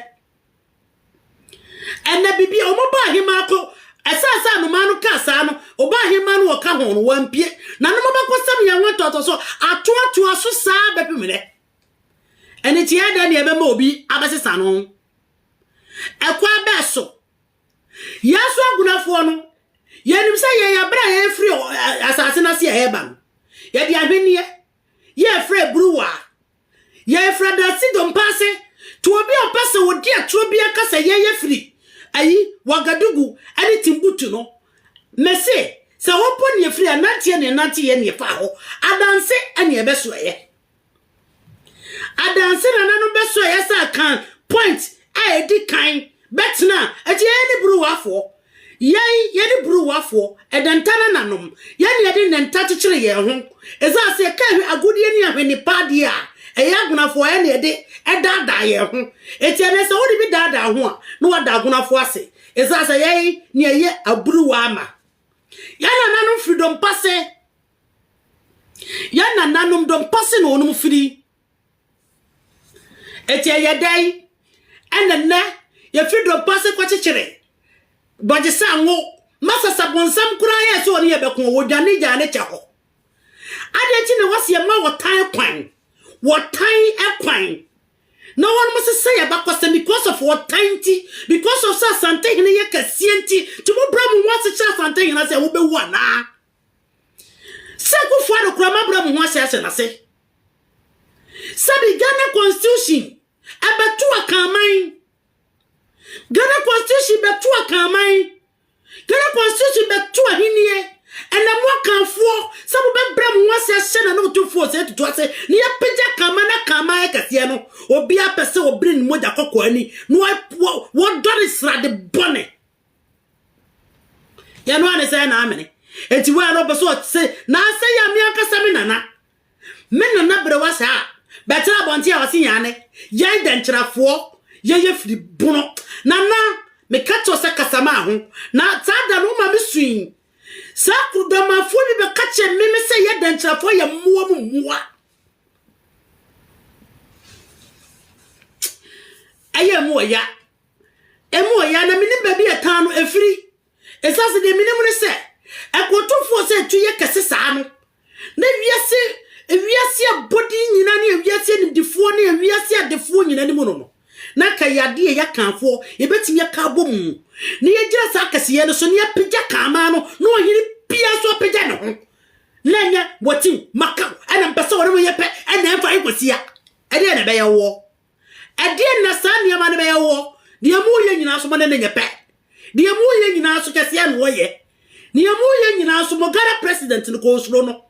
ɛnɛ biribi a wɔbaa ahemaa kɔ ɛsan sɛ nnomaa no kaa saa no ɔbaa ahemaa no wɔka ho no wampie na no mabɛkɔsɛm yɛn ho atɔtɔ so atoatoa so saa bɛpem dɛ ɛne ti ɛdɛ ne ɛbɛma obi abɛsesa no ɛkɔ abɛɛ so yɛn so agunafoɔ no yɛnim sɛ yɛn abrɛ a yɛfiri asase no ase a ɛreba no yɛde ahwenneɛ Yɛfrɛ Abruwa. Yɛfrɛ Adasi Dompase. To obi a ɔpɛ sɛ ɔdi atorɔ biara ka sɛ yɛyɛ firi ayi, Wagadugu ne Timbuktu no. Mese, sɛ hɔ mpo ne yɛfiri a, nanteɛ ne ɛnante yɛ ne ɛfaa hɔ. Adanse ne yɛbɛsoɛɛ. Adanse nananom bɛsoɛɛ sɛ Akan point a ɛdi kan. Bɛtena, ɛti yɛn ne Bruwafoɔ, yɛn, yɛne Bruwafoɔ, ɛdɛ nta na nanom, yɛn ne yɛde nnɛ nta kyekyere yɛn ho, ɛsiane sɛ yɛka ahwe, agodie ne ahwenne pa adeɛ a ɛyɛ agonafoɔ, yɛn ne yɛde ɛdaadaa yɛn ho, ɛti ɛnnɛ sɛ wode bi daadaa ho a, na wada agonafoɔ ase, ɛsiane sɛ yɛn ne yɛyɛ aburuwa ama yɛn nananom firi dompa se, yɛn nananom dompa se na wɔnom firi. Enti ɛyɛ dɛn na nnɛ yefi dompe ase kɔkyekyere bɔgyesɛ ngo ma sasabonsam koraa yɛɛ sɛ ɔne yɛn bɛko, odwane gyaa ne kyɛ hɔ? Adɛn nti na wɔse yɛmma ɔtan kwan, wɔtan kwan na wɔnom sesa yɛn abakɔsɛm because of ɔtan nti, because of sɛ Asantehene yɛ kɛseɛ nti, nti mobrɛ mo ho ase kyerɛ Asantehene sɛ wobɛwu anaa? Sɛ Kufuor de kura m'abrɛ mu ho ase ahyɛ n'ase. Sɛ de Ghana Constitution ɛbɛto Akanman. Ghana Constitution bɛto Akanman. Ghana Constitution bɛto ahennie. Ɛnɛ mo Akanfoɔ sɛ mobɛbrɛ mo ho ase ahyɛ na ne otumfoɔ sɛ tutu ase na yɛpagya Akanman na Akanman ayɛ kɛseɛ no, obiara pɛ sɛ ɔbere ne mogya kɔkɔɔ ani na wɔdɔ ne srade bɔne. yɛ no a ne sɛ ɛna amene enti wei no ɔpɛ sɛ ɔse n'asɛ yɛ me ankasa me nana me nana berewa saa bɛtena abɔnten a ɔse yɛn ne yɛn dɛnkyerɛfoɔ yɛyɛ firi bono nana meka kyɛw sɛ kasa maa ho na saa da no woma me sui sɛ kudɔmafoɔ bi bɛka kyɛ me me sɛ yɛ dɛnkyerɛfoɔ yɛ mmoa mu mmoa ɛyɛ mu ɔya Emu wɔ yɛ a na menim baabi a ɛtaa no ɛfiri, ɛsiane sɛ deɛ menim ne sɛ ɛkotofoɔ sɛ ɛtu yɛ kɛse saa no, na wiase wiase abɔdeɛ nyinaa ne wiase animdefoɔ ne wiase adefoɔ nyinaa ne mu no no, na anka yɛ adeɛ yɛ kanfoɔ, yɛbɛtumi aka abɔ mu, na yɛgyina saa kɛseyɛ no so, na yɛapagya kaamaa no, na ɔhene biara nso apagya ne ho, na ɛnyɛ wɔtiw makaw ɛna mpɛ sɛ wɔne mo yɛ pɛ ɛna ɛmfa nkwasia ɛdeɛ na ɛbɛyɛ woɔ. Ɛdeɛn na saa nneɛma no bɛyɛ woɔ? Deɛ moreyɛ nyinaa nso mo ne no nyɛ pɛ. Deɛ moreyɛ nyinaa nso kɛseɛ na ɔyɛ. Deɛ moreyɛ nyinaa nso mo Ghana president no koraa ɔsuro no.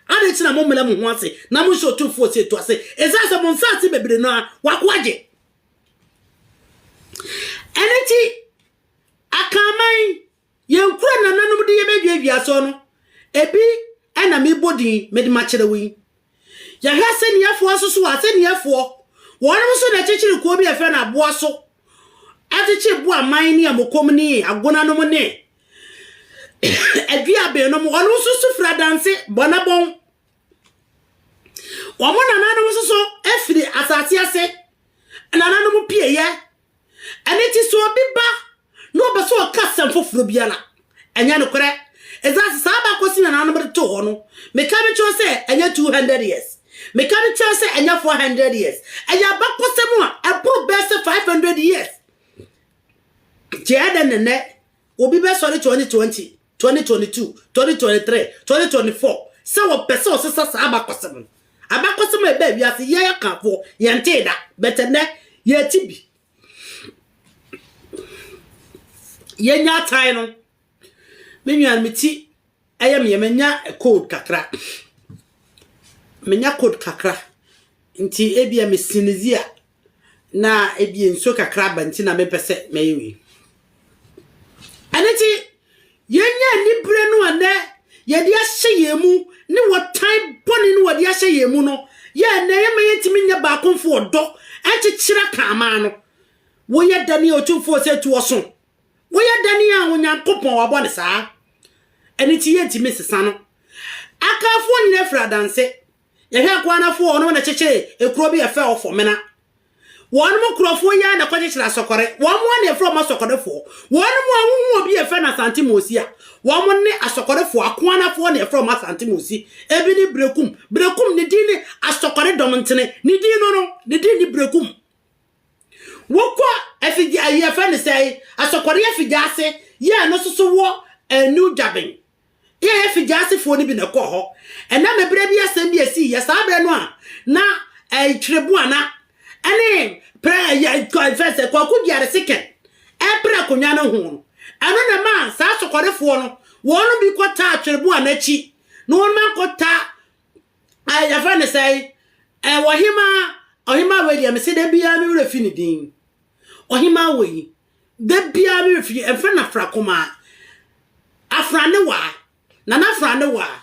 Adɛn nti na mommrɛ mo ho ase na monhyɛ Otumfoɔ Osei Tuah ase? Ɛsiane sɛ mo nsaase bebree no ara wako agye. Ɛno nti, Akanman Yɛn kura nananom de yɛbɛduadua so no, ebi na mebɔ din mede makyerɛ wo yi. Yɛhwɛ asɛnniɛfoɔ nso so a, asɛnniɛfoɔ, wɔnom nso na ɛkyekyere kuo bi a yɛfrɛ no Aboaso, ɛkyekyere Boaman ne Amokom ne Agonanom ne Aduabennom, wɔnom nso so firi Adanse, Bɔnabɔn. Wɔn nananom nso so firi asase ase, nananom pieeɛ. Ɛno nti sɛ obi ba na ɔpɛ sɛ ɔka asɛm foforɔ bi a na ɛnyɛ nokorɛ. Ɛsiane sɛ saa abakɔsem yi a nananom de too hɔ no, meka no kyerɛ wo sɛ ɛnyɛ 200 years. Meka no kyerɛ wo sɛ ɛnyɛ 400 years. Ɛyɛ abakɔsɛm a ɛboro bɛyɛ sɛ 500 years. Nti ɛyɛ dɛn na nnɛ obi bɛsɔre 2020 twenty twenty two, twenty twenty three, twenty twenty four sɛ wɔpɛ sɛ ɔsesa saa abakɔsɛm no. Abakɔsɛm a ɛbaa wiase yɛn akafoɔ yɛntee da, but ɛnɛ yɛte bi. Yɛnya atae no, me nua no me ti ɛyɛ meɛ manya code kakra, manya code kakra nti ebia me sinizi a na ebia nsuo kakra aba nti na mempɛ sɛ mɛyɛ wei. Ɛno nti, yɛnya anibere no a nɛ yɛde ahyɛ yɛn mu ne wɔtan bɔne no wɔde ahyɛ yɛn mu no yɛ ɛnɛ yɛma yɛntumi nyɛ baakomfo ɔdɔ ɛnkyekyera kaamaa no. Woyɛ dɛne a ɔtumfoɔ sɛ tu ɔso? Woyɛ dɛne a Onyankopɔn wabɔ no saa? Ɛno nti yɛntumi nsesa no. Akafoɔ nyina firi adanse Yɛhwɛ nkoa no afo wɔnom na ɛkyekyere ekuro bi ɛfɛ wɔ fɔmena. Wɔnom nkurɔfoɔ yi ara na ɛkɔkyekyere asɔkɔre. Wɔnom ara na yɛfrɛ wɔn asɔkɔrefoɔ. Wɔnom a wohu obi ɛfɛ no Asante Mosi a, wɔnom ne asɔkɔrefoɔ. Akoa no afoɔ na yɛfrɛ wɔn Asante Mosi. Ebi ne Brekum. Brekum ne din ne asɔkɔre dɔm ntene. Ne din no no, ne din ne Brekum. Wokɔ afigya, ayi yɛfrɛ no sɛe, asɔkɔre afigya ase yɛ ɛno nso so wɔ New Gyabeng. Yɛyɛ Fijiasefoɔ no bi na ɛkɔɔ hɔ. Ɛnam ɛberɛ bi asɛm bi a ɛsii yɛ saa berɛ no a na ɛɛ Kyereboana ɛne prɛ ɛyɛ ɛfɛn sɛ Kwaku Gyare Seken ɛrepere akonnwa no ho no, ɛno na ɛmaa saa Sokɔrefoɔ no wɔn bi kɔtaa Kyereboana akyi na wɔn ma kɔta ɛɛ yɛfrɛ no sɛ ɛɛ Ɔhemaa Ɔhemaa wei deɛ mese da biara me werɛ fi ne din Ɔhemaa wei Da biara me wɔ fie ɛmfa no afra kumaa afra ne waa nana afra ne waa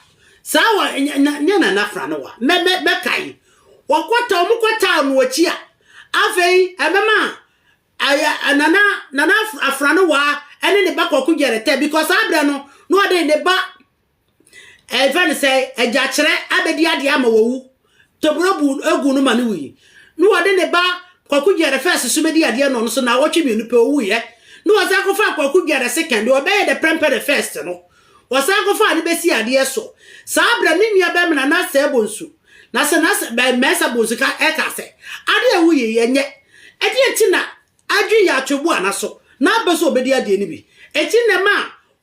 saa wɔ nyɛ nana afra ne waa mɛ mɛ mɛkae wɔkɔta wɔn kɔta no akyi a afei ɛbɛma ayɛ nana nana afra ne waa ɛne ne ba kɔko gyɛrɛtɛ because abrɛ no na ɔde ne ba Ɛfɛ no sɛ agya kyerɛ abɛdi adeɛ ama wawu. Toburo bu egu no ma no wui. Na wɔde ne ba Kwaku Gyɛrɛ fɛs so bɛdi adeɛ na ɔno so naawɔtwe mmienu pɛ ɔwuiɛ. Na wɔsan kɔfaa Kwaku Gyɛrɛ sekɛn deɛ ɔbɛyɛ dɛ prɛmpɛ dɛ fɛst no. Wɔsan kɔfaa no bɛsii adeɛ so. Saa berɛ ne nua bɛmena Nasɛ Bonsu, Nasɛ Nasɛ Mɛɛsa Bonsu ka ɛkaa sɛ, Adeɛ a ɛwuiɛ yi ɛnyɛ. Ɛdeɛn nti na Adwene yɛ atwebo a naso na abɛ sɛ ɔbɛdi adeɛ no bi. Enti na ɛma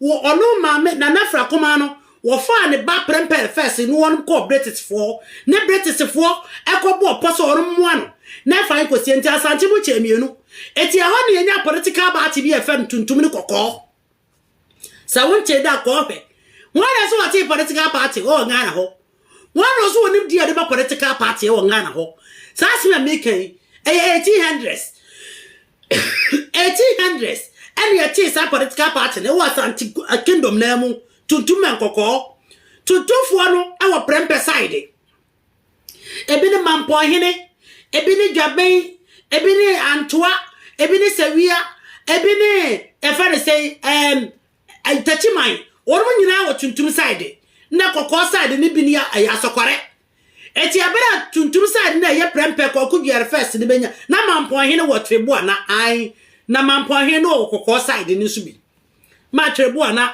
wɔ ɔno maame Nana Afira Kumaa no wɔfaa ne ba Prempeh Fɛse ne wɔnom kɔɔ British-foɔ hɔ ne British-foɔ ɛkɔ bɔɔ pɔ sɛ wɔnom moa no na ɛfa nkɔsie nti Asante mu kyɛɛ mmienu. Enti ɛhɔ na yɛnyaa political baate bi a ɛfɛm tuntum ne kɔkɔɔ. Sɛ wonte da kɔ hwɛ. Hwan na ɛsɛ wɔte political party wɔ Ghana hɔ? Hwan na ɔso wɔ nimdeɛ a yɛde ba political party wɔ Ghana hɔ? Saa asɛm a meka yi, ɛyɛ 1800s. 1800s ɛne yɛtee saa political party no wɔ Asante Kingdom naa mu, tuntum and kɔkɔɔ. Tuntumfoɔ no wɔ prɛmpɛ side. Ebi ne mampɔnhene, ebi ne dwaben, ebi ne antoa, ebi ne sawia, ebi ne yɛfrɛ no sɛn ɛɛm takyiman. Wɔn nyinaa wɔ tuntum side na kɔkɔɔ side ne bi ne ɛyɛ asɔkɔrɛ. Eti abere a tuntum side na ɛyɛ prɛmpɛ kɔkɔ duare fɛs ne benya na mampɔnhene wɔ tribo ana an na mampɔnhene no wɔ kɔkɔɔ side ne nso bi. maa Twerɛboa no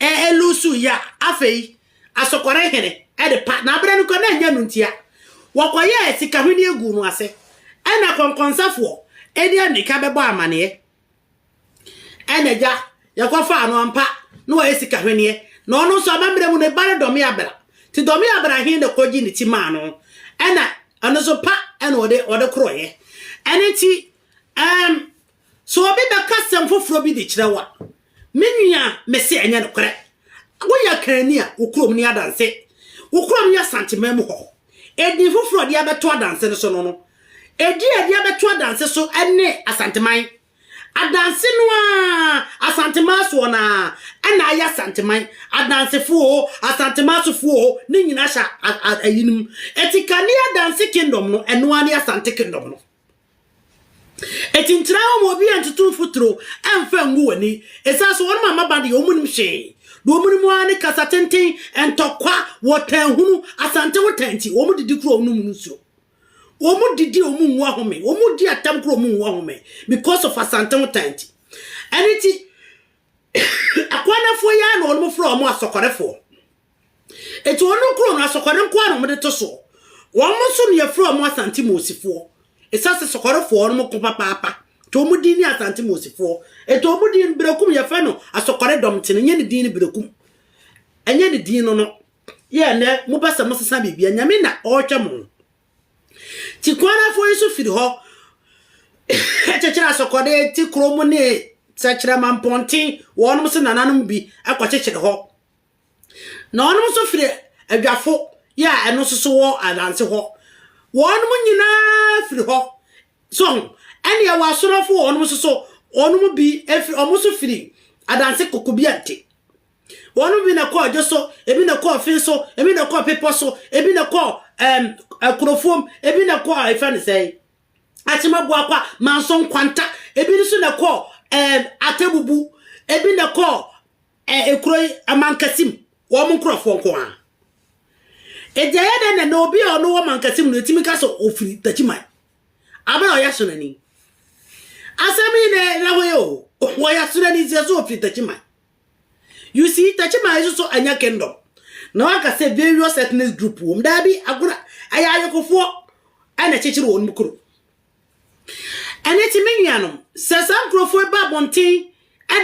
ɛluusuu yɛ a, afei Asɔkɔre hene de pa, na berɛ no koraa na ɛnyɛ no ntia, wɔkɔyɛɛ sika hweneɛ guu no ase, ɛna kɔnkɔnsafoɔ de ammirika bɛbɔɔ amaneɛ, ɛna agya yɛkɔfaa no ampa na wɔyɛ sika hweneɛ, na ɔno nso amammerɛ mu no ne ba ne Dɔme Abra, nti Dɔme Abra he na ɛkɔgye ne ti maa no, ɛna ɛno nso pa ɛna ɔde ɔde korɔeɛ, ɛno nti ɛɛm Sɛ obi bɛka asɛm foforɔ bi de kyerɛ wo a, me nua, mese ɛnyɛ nokorɛ. Woyɛ akanni a, wo kurom nni adanse. Wo kurom yɛ Asanteman mu hɔ. Edin foforɔ a wɔde abɛto adanse no so no no, edin a wɔde abɛto adanse so ne Asanteman. Adanse no ara, Asanteman soɔ no ara na ayɛ Asanteman. Adansefo o, Asanteman sofoɔ o, ne nyinaa hyɛ eyinom. Eti Kanea Adanse Kingdom no, ɛno ara ne Asante Kingdom no. Enti ntena hɔ ma obiara ntutu mfuturo mfa ngu w'ani. Ɛsiane sɛ wɔn mmabaa deɛ wɔnnim hwee, deɛ wɔnim ara ne kasa tenten, ntɔkwa, wɔtaa hunu, asante wotaa nti, wɔdidi kura wɔnom nsuo. Wɔdidi a wɔnwu ahome, wɔdi atam kura wɔnwu ahome because of asante wotaa nti. Ɛno nti, akwanafoɔ yi ara na wɔfrɛ wɔn asɔkɔrɛfoɔ. Enti wɔn kuro no asɔkɔre nko ara na wɔde to soɔ. Wɔn nso na yɛfrɛ wɔn Asante Moosifoɔ. Ɛsiane sɛ sɔkɔrefoɔ no wɔn ko papaapa, nti wɔn din ne Asante Moosifoɔ. Nti wɔn din no Berekum yɛfrɛ no asɔkɔre dɔm nti no, ɛnyɛ ne din no Berekum. Ɛnyɛ ne din no no. Yɛ nnɛ mopɛ sɛ mosesa biribi a, Nyame na ɔrehwɛ mo. Nti Kwanafoɔ yi nso firi hɔ kyekyere asɔkɔre ti kuro mu ne Sɛkyerɛma Mpɔnten, wɔn nso nananom bi kɔkyekyere hɔ. na ɔnom nso firi adwafo yɛ a ɛno nso so wɔ adanse hɔ, wɔnom nyinaa firi hɔ, so ho, ɛne ɛwɔ asonɔfo wɔnom nso so, wɔnom bi firi, wɔn nso firi adanse koko bi ante. Wɔnom bi na kɔ adwo so, ebi na kɔ ɔfe so, ebi na kɔ pepɔ so, ebi na kɔ ɛm, ɛkorofuom, ebi na kɔ ɛfɛ ne sɛe, akyemaboakwa, manso nkwanta, ebi nso na kɔ ɛm, atebubu, ebi na kɔ Ɛɛ kuro yi Mankessim wɔn nkorɔfoɔ nko ara Enti ɛyɛ dɛn na na obi a ɔno wɔ Mankessim no ɛtumi ka sɛ ɔfiri Takyiman abere a ɔyɛ asonani Asɛm yi na ɛda hɔ yi o Ɔyɛ asonani nti ɛsɛ ɔfiri Takyiman You see Takyiman yi soso ɛnyɛ kingdom Na waka sɛ various ethnic group wɔ mu Daabi agorɔ ɛyɛ ayokofoɔ ɛna ɛkyekyere wɔn kuro Ɛno nti, me nuanom, sɛ saa nkurɔfoɔ yi ba abɔnten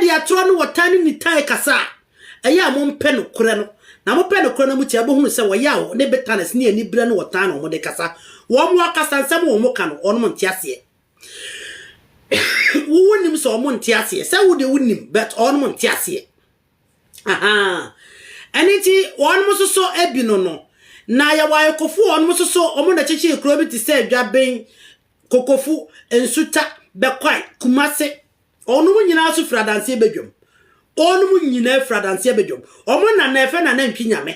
de atorɔ ne ɔtaa ne nitan rekasa a, ɛyɛ a mompɛ nokorɛ no, na mopɛ nokorɛ no a motie a, mobɛhunu sɛ wɔyɛ aho ne bitterness ne aniberɛ ne ɔtaa na wɔde rekasa. Wɔn akasansɛm a wɔka no, wɔn nte aseɛ. Wo wonim sɛ wɔn nte aseɛ? Sɛ wo deɛ wonim, but wɔn nte aseɛ. Ahaa. Ɛno nti, wɔnom nso so bi no no, na yɛwɔ ayekofo wɔnom nso so wɔn na kyekyee kuro bi te sɛ Dwaben, Kokofo, Nsuta, Bɛkwae, Kumase. Wɔnom nyinaa nso firi Adanseɛ Badwam. Wɔnom nyinaa firi Adanseɛ Badwam. Wɔn na na ɛfɛ na nantwi nyame.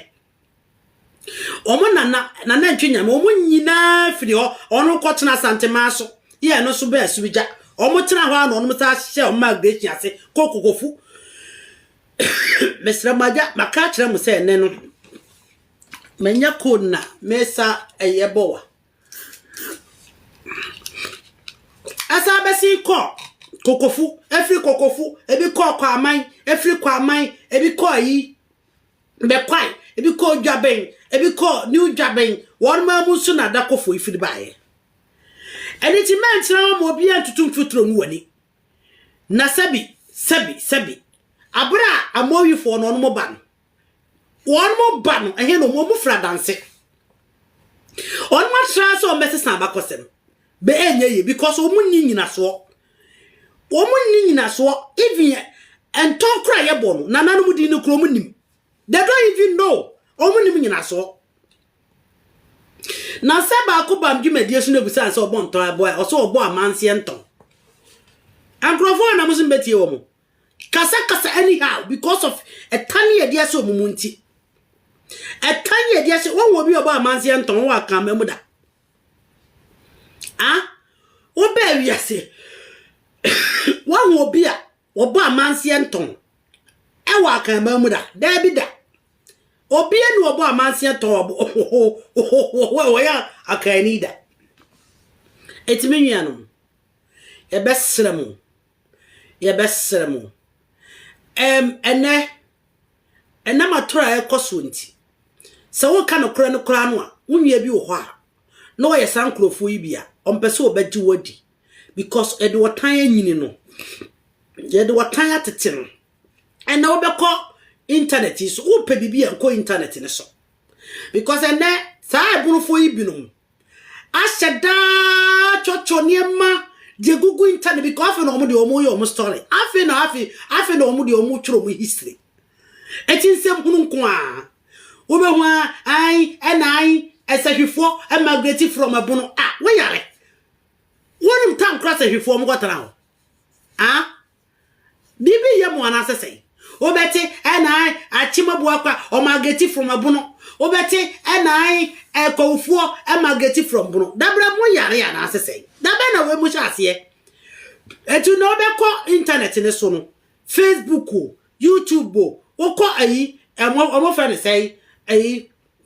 Wɔn na na n'anantwi nyame, wɔn nyinaa firi hɔ, wɔn kɔtena Santemaa so, yɛ ɛno so bɛɛ Asubigya. Wɔn tena hɔ a na wɔn saa hyɛ wɔn migration ase kɔ Kokofu. Mesrɛ mo agya, maka akyerɛ mo sɛ ɛnɛ no, manya code na mesa ɛyɛ bɔ wa. Ɛsan bɛsi kɔ Kokofu, ɛfiri Kokofu, ebi kɔ Kwaman, ɛfiri Kwaman, ebi kɔ ayi. Bɛkɔae, ebi kɔɔ Dwaben, ebi kɔɔ New Dwaben, wɔn mmaa mu nso na Adakɔfoɔ yi firi baeɛ. Ɛno nti mɛntena hɔ ma obiara ntutu mfuturo ngu w'ani. Na sɛbi, sɛbi, sɛbi, abere a Amoifoɔ no wɔn ba no, wɔn ba no, ɛhe na wɔn firi adanse? Wɔn atra sɛ wɔbɛsesa abakɔsɛm, bɛ ɛnyɛ yie because wɔn nni nyinasoɔ. Wɔn nni nyinasoɔ even yɛ ntɔn koro a yɛbɔ no nananom din no koro wɔn nim they don't even know wɔn nim nyinasoɔ na sɛ baako bam dwumadie so na ebu sɛ ansɛ ɔbɔ ntɔn ɛbɔ a ɔsɛ ɔbɔ amanseɛ ntɔn nkurɔfoɔ a na mo so mbɛtie wɔn kasa kasa anyhow because of ɛtan yɛ di ɛsɛ wɔn mu nti ɛtan yɛ di ɛsɛ wɔn wɔ bi ɔbɔ amanseɛ ntɔn wɔn wɔ akanman mu da. Ah, wobɛɛ wiase. Woahu obi a wɔbɔ amanseɛ ntɔn ɛwɔ akanman mu da? Daabi da. Obia ni wɔbɔ amanseɛ ntɔn ohohohohoho wɔyɛ akanni da. Ɛtumi nwianom. Yɛbɛsrɛ mo, Yɛbɛsrɛ mo, ɛm, ɛnnɛ, ɛnam atoro a ɛrekɔ soɔ nti, sɛ woreka nokorɛ no koraa no a, wo nua bi wɔ hɔ a, na ɔyɛ saa nkurɔfoɔ yi bi a, ɔmpɛ sɛ ɔbɛgye wo adi, because yɛde ɔtan anyini no, yɛde ɔtan atete no. Ɛnna wobɛkɔ intanɛt yi so, wopɛ biribi a nkɔ intanɛt no so, because ɛnɛ saa ɛbonofoɔ yi binom, Ahyɛ daa twɔtwɔ nneɛma de agugu internet because afei na wɔn deɛ wɔyɛ wɔn story. Afei na afei afei na wɔn deɛ wɔtwerɛ wɔn history. Eti nsɛm hunu nko a wobɛhu a an ɛna an ɛsɛhwifoɔ ɛmagreti from ɛbono a woyare. Wɔnim tankora sɛhwifoɔ wɔn kɔtena hɔ. Ah Biribi reyɛ mo anaasɛ sɛn? Wobɛte, Ɛnaae, akyemabuo kwa, ɔmageti from ɛbono. Wobɛte, Ɛnaae, ɛkɔwufoɔ, ɛmageti from bono. Dabrɛ mo yare anaasɛ sɛn? Dabɛn na wei mo hyɛ aseɛ? Ɛti nnɛ wobɛkɔ internet no so no, Facebook o, YouTube o, wokɔ ayi, ɛmo, wɔn frɛ no sɛn, ayi,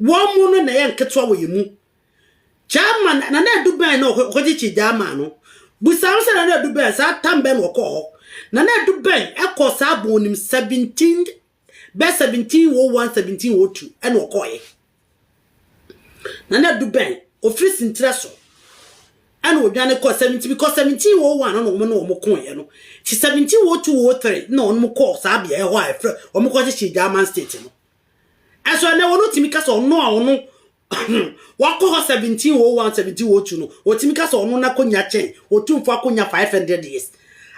Wɔn mu no na ɛyɛ nketewa wɔ yɛn mu. Chairman, Nana Adu bɛn na ɔkɔkyekyee Gyaamaa no? Bisa no sɛ Nana Adu bɛn, saa tam bɛn na ɔkɔɔ hɔ? Nana Adu bɛn kɔɔ saa bɔ onim 17 bɛ 1701 1702 ɛna ɔkɔɔɛ? Nana Adu bɛn ɔfiri Sintire so ɛna ɔdwane kɔɔ 17 because 1701 no na wɔn ne wɔn kooɛ no ti 1702 03 na wɔn kɔɔ saa beaɛ hɔ a ɛfrɛ wɔn kɔkyekyee Gyaamaa state no. Ɛso ɛnnɛ wɔn tumi ka sɛ ɔno a ɔno wakɔ hɔ 1701, 1702 no, wɔtumi ka sɛ ɔno n'akonya kyɛn otumfoɔ akonya 500 years.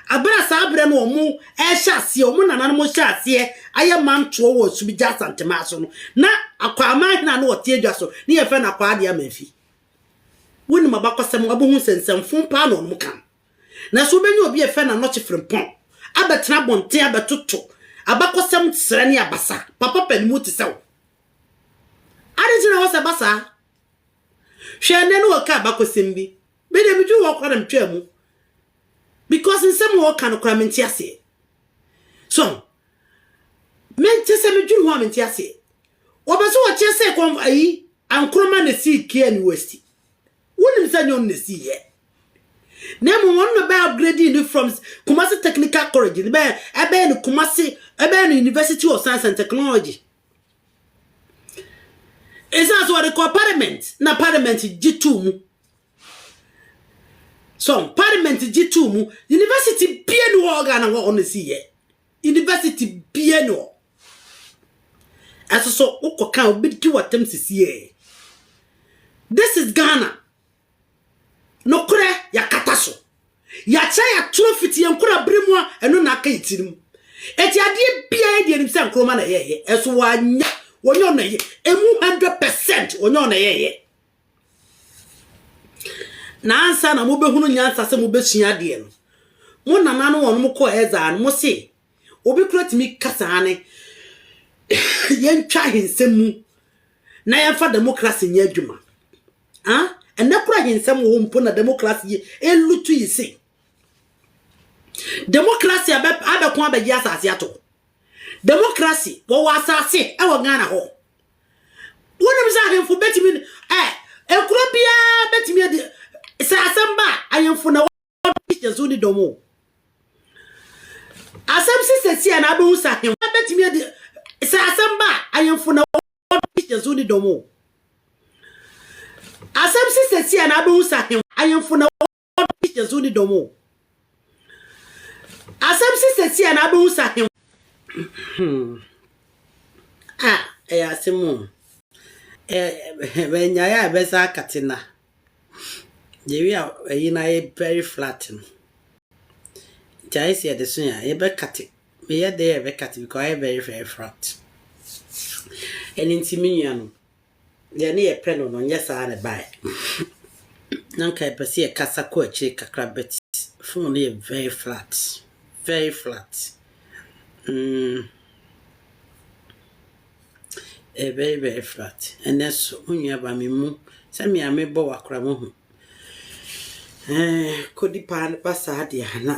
Bere a saa bere no wɔn ɛrehyɛ aseɛ, wɔn nananom rehyɛ aseɛ ayɛ mantoɔ wɔ Sumigya Asantemaa so no, na Akwaa Amanhene a na ɔte adwa so ne yɛfrɛ no Akwaa Adeɛ Amanfi. Wonim abakɔsɛm a, wobɛhu sɛ nsɛmfoo paa na wɔn ka no. Nanso wobenya obi a efɛ n'ano kye frempɔn abɛtena abɔnten abɛtoto abakɔsɛm srɛ ne abasa. Papa pa ne mu te sɛ wo. Ade nti na wɔsɛ ba saa? Hwɛ ɛnnɛ na wɔka abakɔsɛm bi, me deɛ meduru hɔ koraa na metwaa mu because nsɛm a wɔka no koraa mente aseɛ. So mente sɛ meduru ho a mente aseɛ. Wɔpɛ sɛ wɔkyerɛ sɛ kɔn ayi Ankoroma na esii Kiani West. Wonim sɛ nyɛ ɔno na esii yɛ. Na mmom ɔno na bɛyɛ upgrading no from Kumasi Technical College no bɛyɛ ɛbɛyɛ no Kumasi ɛbɛyɛ no University of Science and Technology. Ɛsan so wɔde kɔ parliament na parliament gye too mu. So parliament gye too mu university bie ni hɔ Ghana hɔ ɔno na esii yɛ. University biaa nni hɔ. Ɛsoso wo kɔ ka a wobɛdi w'atam sisie. This is Ghana. Nokorɛ yɛakata so. Yɛakyerɛ yɛatoro fiti yɛn nkora bere mu a ɛno na aka yɛ tirim. Ɛti adeɛ biaa yɛdi anim sɛ Nkrumah na ɛyɛɛyɛ. Ɛso wanyɛ, wɔnyɛ ɔno na ɛyɛ. Ɛmu 100% wɔnyɛ ɔno na ɛyɛɛyɛ. Na ansa na mobɛhunu nyansa sɛ mobɛsua adeɛ no, mo nana no wɔnom kɔɔ Ɛzar no, mo se, Obi kora tumi kasa ane yɛntwa ahensɛm mu na yɛmfa demokrase nyɛ adwuma? Ha? Ɛnɛ kora ahensɛm wɔ hɔ mpo na demokrase yɛ ɛlutu yi se. Demokrase abɛko abɛgye asase ato. Demokrase wɔwɔ asase ɛwɔ Ghana hɔ. Wonim sɛ ahemfo bɛtumi ɛ ekuro biara bɛtumi adi sɛ asɛm ba ahemfo na wɔde hyɛ so ne dɔm o. Asɛm si sɛ si a na abɛhu sɛ ahemfo bɛtumi adi sɛ asɛm ba ahemfo na wɔde hyɛ so ne dɔm o. Asɛm si sɛ si a na abɛhu sɛ ahemfo na ɔde hyɛ so ne dɔm o. Asɛm si sɛsi a na abɛhu sɛ ahem. A ɛyɛ asɛm o. Bɛnyaeɛ a ɛbɛsa akate na. Yɛwie a ɛyi na yɛ very flat no. Nti ayɛ sɛ yɛde so yɛn a yɛbɛkate. Meyɛ dɛ yɛbɛkate because ayɛ very very flat. Ɛno nti me nuanom Deɛ ne yɛpɛ no no nyɛ saa na ɛbaeɛ. Na nka yɛpɛ sɛ yɛkasa kɔ akyire kakra but phone no yɛ very flat, very flat. Mm. Ɛyɛ very very flat. Ɛnɛ so mo nuaba me mu sɛ me a mebɔ wakora mo ho. Ɛɛ kodi paa no ba saa deɛ a na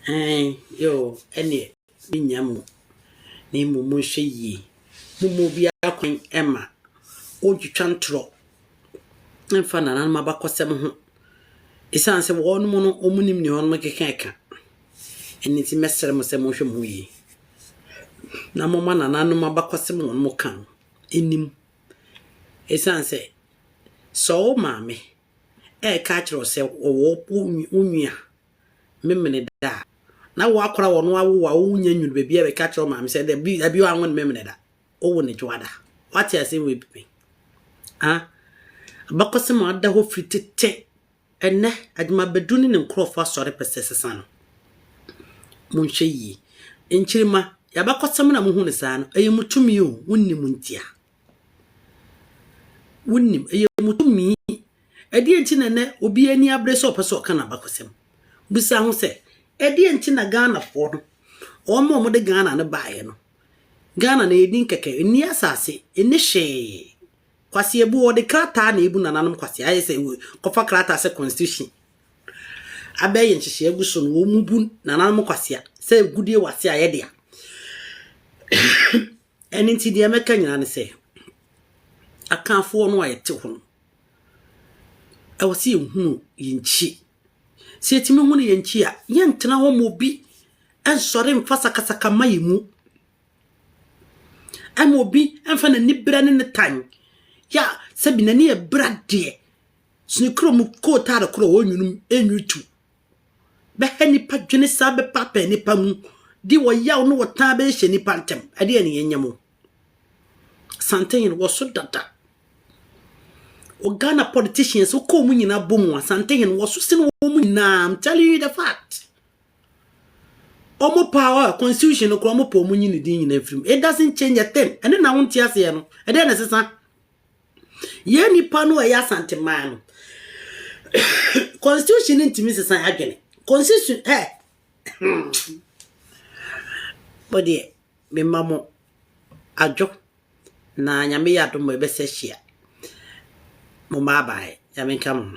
ɛɛ yoo ɛneɛ. Mennya mo, na mmom monhwɛ yie. Momma obiara kwan mma ɔntwitwa ntorɔ mfa nananom abakɔsɛm ho, ɛsiane sɛ wɔnom no, wɔnim deɛ wɔnom keka reka. Ɛno nti, mɛsrɛ mo sɛ monhwɛ mo ho yie, na momma nananom abakɔsɛm a wɔnom ka no nnim. Ɛsiane sɛ, sɛ wo maame reka akyerɛ wo sɛ ɔwɔ wo nua Memeneda a, na wɔakora wɔn awo a wonnya nnuru baabi a bɛka kyerɛ wo maame sɛ dabi, dabi wanwo no Memeneda. Wowo no Dwoada. Woate asɛm wei bi pɛn? Ha? Abakɔsɛm a ada hɔ firi tete. Ɛnnɛ, Agyemabadu ne ne nkurɔfoɔ asɔre pɛ sɛ ɛsesa no. Monhwɛ yie. Nkyirimma, yɛn abakɔsɛm no a mohu no saa no, ɛyɛ mo tumi o, monni mu ntia. Wonim, ɛyɛ wɔn tumi. Ɛdeɛn nti na nnɛ obi ani abere sɛ ɔpɛ sɛ ɔka n'abakɔsɛm? Bisa ho sɛ, ɛdeɛn nti na Ghanafoɔ no, wɔn a wɔde Ghana no baeɛ no, Ghana no ɛyɛ din kɛkɛ, ɛnni asase, ɛnni hwee. Kwasi Abu, wɔde krataa na ɛbu nananom Kwasi, ayɛ sɛ wɔ- kɔfa krataa sɛ constitution abɛyɛ nhyehyɛe agu so no, wɔn bu nananom Kwasi a, sɛ agudie wɔ ase a ɛyɛ dea. Ɛno nti deɛ mɛka nyinaa ne sɛ, Akanfoɔ no a yɛte hɔ no, ɛwɔ sɛ yɛhunu yɛn nkyi. Sɛ yɛtumi hunu yɛn nkyi a, yɛntena hɔ ma obi nsɔre mfa sakasaka mma yɛn mu. Ɛma obi mfa n'ani berɛ ne ne tan. Yɛ a sɛbi n'ani yɛ bra deɛ, sene kuro mu kootaale korɔ ɔnwunu tu bɛha nnipa dwene saa bɛpaapae nnipa mu de ɔyaw ne ɔtaa bɛhyɛ nnipa ntam ɛdeɛ ne yɛnyɛ mo santehene wɔ so dada o Ghana politicians wokɔ mu nyinaa bɔ mu a santehene wɔ so sene wɔn mu nyinaa I'm telling you the fact ɔmo power a constitution no koraa ɔmo pɔ ɔmo nyi ne din nyinaa firim it doesn't change a thing ɛne na wonte aseɛ no ɛdeɛ na ɛsesa Yɛn nnipa no a ɛyɛ Asante man no, constitution no ntumi nsesa yɛn adwene. Constitution ɛ mo deɛ mema mo adwo na nyame yɛ adom ɛbɛsɛ hyia mo bye bye nyame nka mo ho.